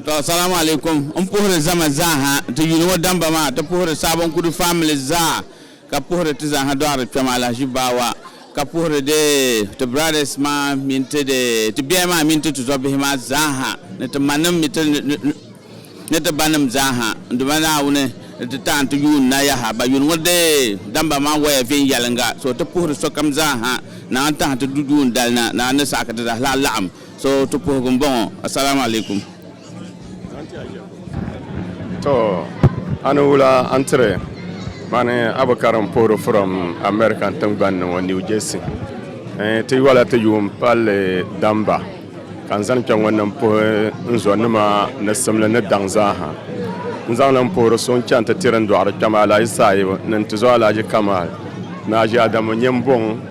To salamu alaikum n puhiri zama zaaha ti yuli ŋɔ damba maa ti puhiri Sabon Kudu family zaa ka puhiri ti zaaha dɔɣiri kpɛm alahaji baawa ka puhiri de ti brothers maa mini ti de ti biɛhi maa mini ti tizɔbihi maa zaaha ni ti manim mi ti ni ti banim zaaha n Duuma Naawuni ni ti taɣi n ti yuun na yaha ba yuli ŋɔ de damba maa waya viɛnyɛlinga so ti puhiri sokam zaaha naɣa n tahi ti du duun dali na naɣa ni saɣi ka ti zaaha laɣim So ti puhigu n bɔŋɔ. Asalaam alaikum. To a ni wula a ni tiri mani Abukariŋ puhiri furom American tingbani ni ŋɔ New Jersey. Eeh ti yɔla ti yuun palli damba ka n zani kpɛŋɔ ni n puhi n zo nima ni simli ni daŋ zaa ha. N zaŋ li n puhiri so n chani ti tiri n dɔɣiri kpɛma Alhaji Sahibu ni n tizo Alhaji Kamal ni Haji Adamu Nyembuŋ.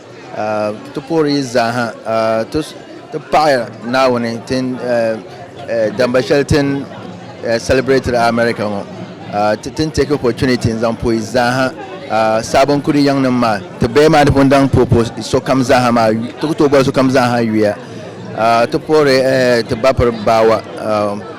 Ti puhiri yi zaaha ti paɣi Naawuni damba shɛli ti ni celebrateiri America ŋɔ. Ti ni take opportunity n-zaŋ puhi yi zaaha Sabon Kudi yiŋnim maa. Ti baya maa di pun daŋ puhi puhi sokam zaaha maa, ti ku tooi boli sokam zaaha yuya. Ti puhiri ti bapiri baawa.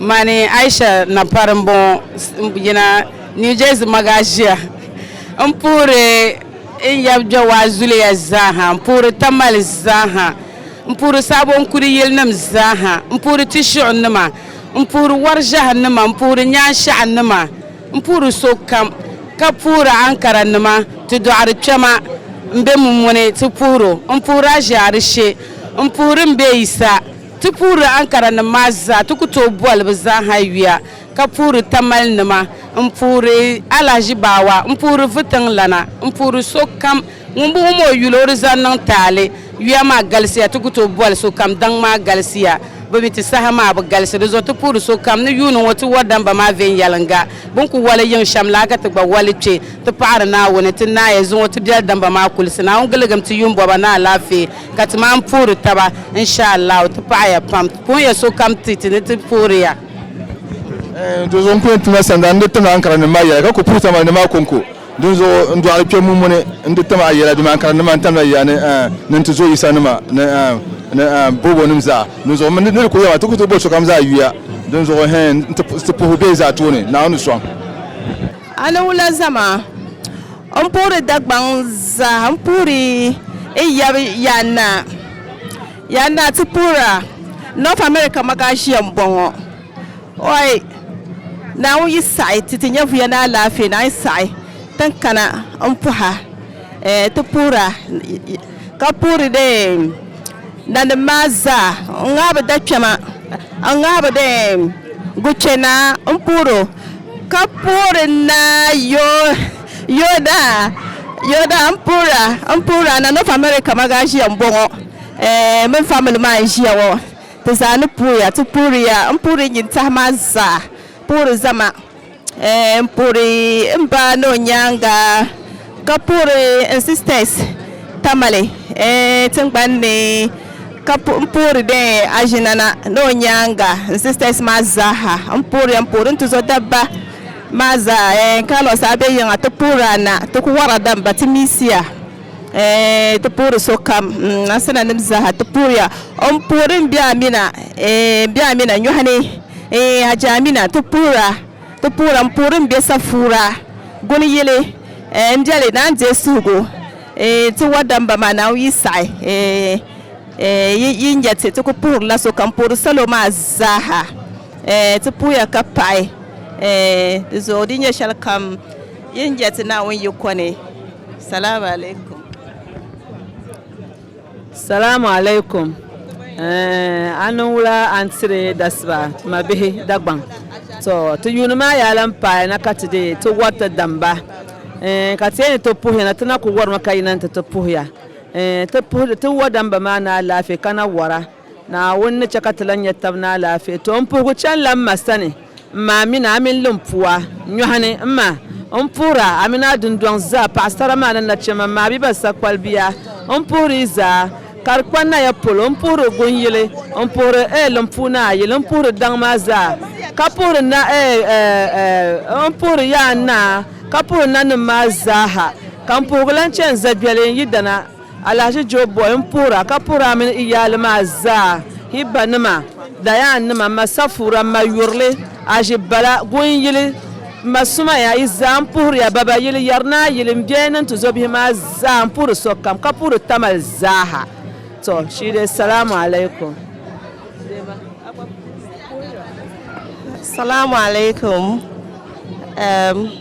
Mani Aisha Napari n bɔŋɔ n yina New Jersey Magaʒia n puhiri n yab Jawaa zuliya zaaha n puhiri Tamale zaaha n puhiri Sabonkuri yilinim zaaha n puhiri Tishiɣunima n puhiri Wariʒahinima n puhiri Nyaanshaɣunima n puhiri sokam ka puhiri Ankaranima ti dɔɣiri kpɛma m be Mummuni ti puhiri o m puhiri Aʒiarishe m puhiri m be Yisa Ti puhiri Ankara nim maa zaa, ti ku tooi boli bi zaaha yuya, ka puhiri Tamale nima, n puhiri Alahaji Baawa, n puhiri Vitiŋ lana, n puhiri so kam ŋun bi wum o yuli o di zaŋ niŋ taali. Yuya maa galisiya, ti ku tooi boli so kam daŋ maa galisiya, bi mi ti saha maa bi galisi. Di zuɣu ti puhiri so kam ni yuuni ŋɔ ti wari damba maa viɛnyɛliŋga, bi ni ku wali yiŋ shɛm la ka ti gba wali kpe, ti paɣiri Naawuni, ti naai zuŋɔ ti biɛli damba maa kulisi. Naawuni giligim ti yuun bɔba ni alaafee. Ka ti maan puhiri taba, in sha Allahu, ti paɣi ya pam. Puhi ya sokam ti ti ni ti puhiri ya. Dinzuɣu n ku yɛn tumla sanda n di tim Ankara nim maa yɛla ka ku puhi tamanim maa kɔŋko. Dinzuɣu n dɔɣiri kpɛm ŋun muni n di tim a yɛla domin Ankara nim maa n tamla ya ni ni n ti zo Yisa nima ni ni bɔbɔ nim zaa. Dinzuɣu n mi ni di ku yɛma ti ku tooi boli sokam zaa yuya. Dinzuɣu hɛn n ti puhi bɛ zaa tooni Naawuni sɔŋ. A ni wula zama? N puhiri Dagbaŋ zaa n puhiri n yab yaannaa yaannaa ti puhira North America magaʒia m bɔŋɔ ɔi Naawuni yi saɣi ti ti nya vuya ni alaafee ni a yi saɣi ti n kana m pɔha ti puhira ka puhiri dee nanim maa zaa n ŋahibu dakpɛma n ŋahibu dee guchɛnaa m puhiri o Ka puhiri naa Yoda, Yoda n puhira n puhira na North America ma gaa ʒiya m bɔŋɔ ɛɛh mini family maa n ʒiya ŋɔ ti zaa ni puhiya ti puhiriya n puhiri nyin tahi maa zaa puhiri zama ɛɛh n puhiri m ba ni o nyaaŋa. ka puhiri n sisters Tamale tingbani ni ka puhiri dɛ aʒinana ni o nyaaŋa n sisters maa zaaha n puhiriya n puhiri n tuzɔ dabba maa zaa Carlos a be yiŋa ti puhiri a na ti ku wara damba ti misia ti puhiri sokam Asinanim zaaha ti puhiriya n puhiri n biɛɣu Amina nyɔhi ni Hajji Amina ti puhira. Ti puhira m puhiri m be safuura guni yili eh m biɛli naan deei suhigu eh ti wadamba maa naan yi saɣi eh eh yi yi nya ti ti ku puhirila so ka m puhiri salo maa zaaha eh ti puhiya ka paɣi eh di zuɣu di nya shɛli kam yi ni nya ti Naawuni yiko ni salaam alaikum. Salaam alaikum eh, a niŋ wula a ni tiri dasiba ma bihi Dagbaŋ? To, ti yuuni maa yaa lan paai na ka ti dii ti wari ti damba eh, ka ti yɛn ni ti puhiya na ti na ku warimi ka yina ni ti ti puhiya eh, ti puhi ti wɔ damba maa ni alaafee ka na wara. Naawuni ni chɛ ka ti lan nya tab ni alaafee. Tɔ! M puhigu chanila m ma sani, m ma Amina, a mini Limpua nyɔhini. M ma! M puhir a, a mini a dundɔŋ zaa, paɣisara maa ni nachimba, m ma Abiba sakpalibia. M puhir yi zaa, ka di kpa naya polo. M puhir o gun yili, n puhir eh Limpuu ni a yili, m puhir daŋ maa zaa, ka puhir na eh eh m puhir ya a ni a, ka puhir nanim maa zaaha, ka m puhigu lan chani zagbɛli n yi dana. Alahaji Joe Boy n puhir a ka puhir a mini i yaali maa zaa, hi ba nima, Dayan nima, m ma Safura, m ma Yurili, Aji Bala, Gunyili, m ma Sumaya, yi zaa n puhiri a, Baba yili, Yarinaa yili, m biɛhi ni n tizɔbihi maa zaa, n puhiri sokam, ka puhiri Tamale zaa ha. To shii dee Salaam Alaikum. Salaam Alaikum.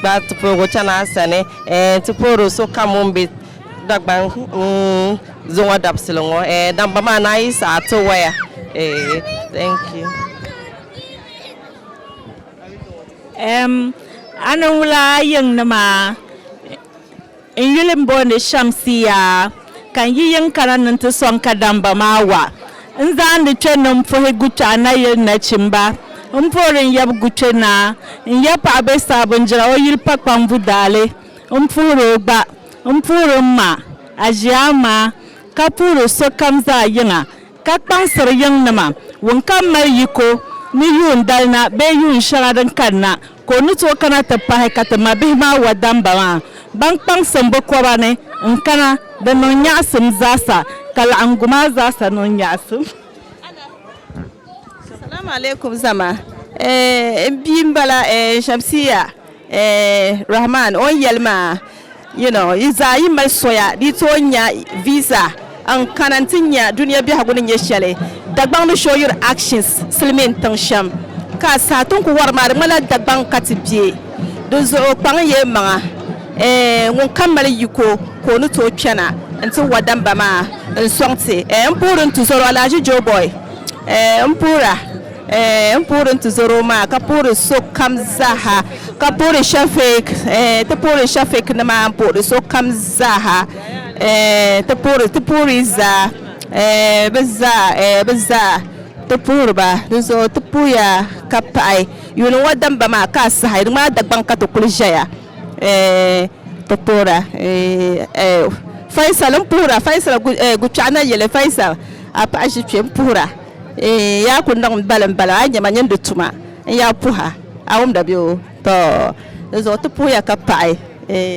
Gbaai ti pooi chani a sani. Ɛɛn ti pooi o sokam ŋun be Dagban zuŋɔ dabisili ŋɔ. Ɛɛn damba maa ni a yi saɣi a ti waya. Eeh thank you. Ɛɛm a ni wula a yiŋ ni maa? N yuli m-booni Shamsiya, ka n yi yiŋ kana ni n ti sɔŋ kadamba maa wa. N zaandi kpe ni m puhi Guchɛɣu Nayili nachimba. M poori n yab Guchɛ Naa. N ya paɣa be saha bindira o yili pa kpaŋbu daali. M puhir o gba. M puhir m ma, Aʒiaama, ka puhir sokam zaa yiŋa, ka kpaŋsir yiŋnima, wunkam mali yiko ni yuun dali na bee yuun shɛŋa din kani na. Ka o ni tooi kana ti pahi ka ti mabihi maa wadamba maa ban kpaŋsim bɛ koba ni n-kana, di niŋ nyaɣisim zaasa, ka laɣiŋgu maa zaasa niŋ nyaɣisim. Salaam alaikum zama eh n bia m bala eh Shamsiya eh Rahman o ni yeli maa. You know, yi zaa yi mali soya di yi tooi nya visa n kana n ti nya dunia biɛhigu ni nyɛ shɛli. Dagbaŋ ni show your actions silimiin tiŋ shɛm ka a saha ti n ku wari maa di ŋmanila Dagbaŋ ka ti be. Dinzuɣu kpaŋ yi maŋa eh ŋun kam mali yiko ka o ni tooi kpɛna n ti wa damba maa n sɔŋ ti eh m puhiri n tuzɔro Alhaji Joeboy eh m puhira. N puhiri n tizoro maa ka puhiri sokam zaaha, ka puhiri Shafik, ti puhiri Shafik nima n puhiri sokam zaaha, ti puhiri ti puhiri zaa, bi zaa, bi zaa ti puhiri ba. Di zuɣu ti puhiya ka paɣi yuuni ŋɔ damba maa ka a saha di ŋmanila Dagbaŋ ka ti kuli ʒɛya ti puhira. Faisal n puhira Faisal Gukpɛɣu Nayili Faisal a paɣi ʒi kpɛ n puhira. Eeh yaa ku niŋ balim balim a nyɛma nyin di tuma n yaa puha a wumda bɛ o tɔ di zuɣu ti puhiya ka paɣi eeh.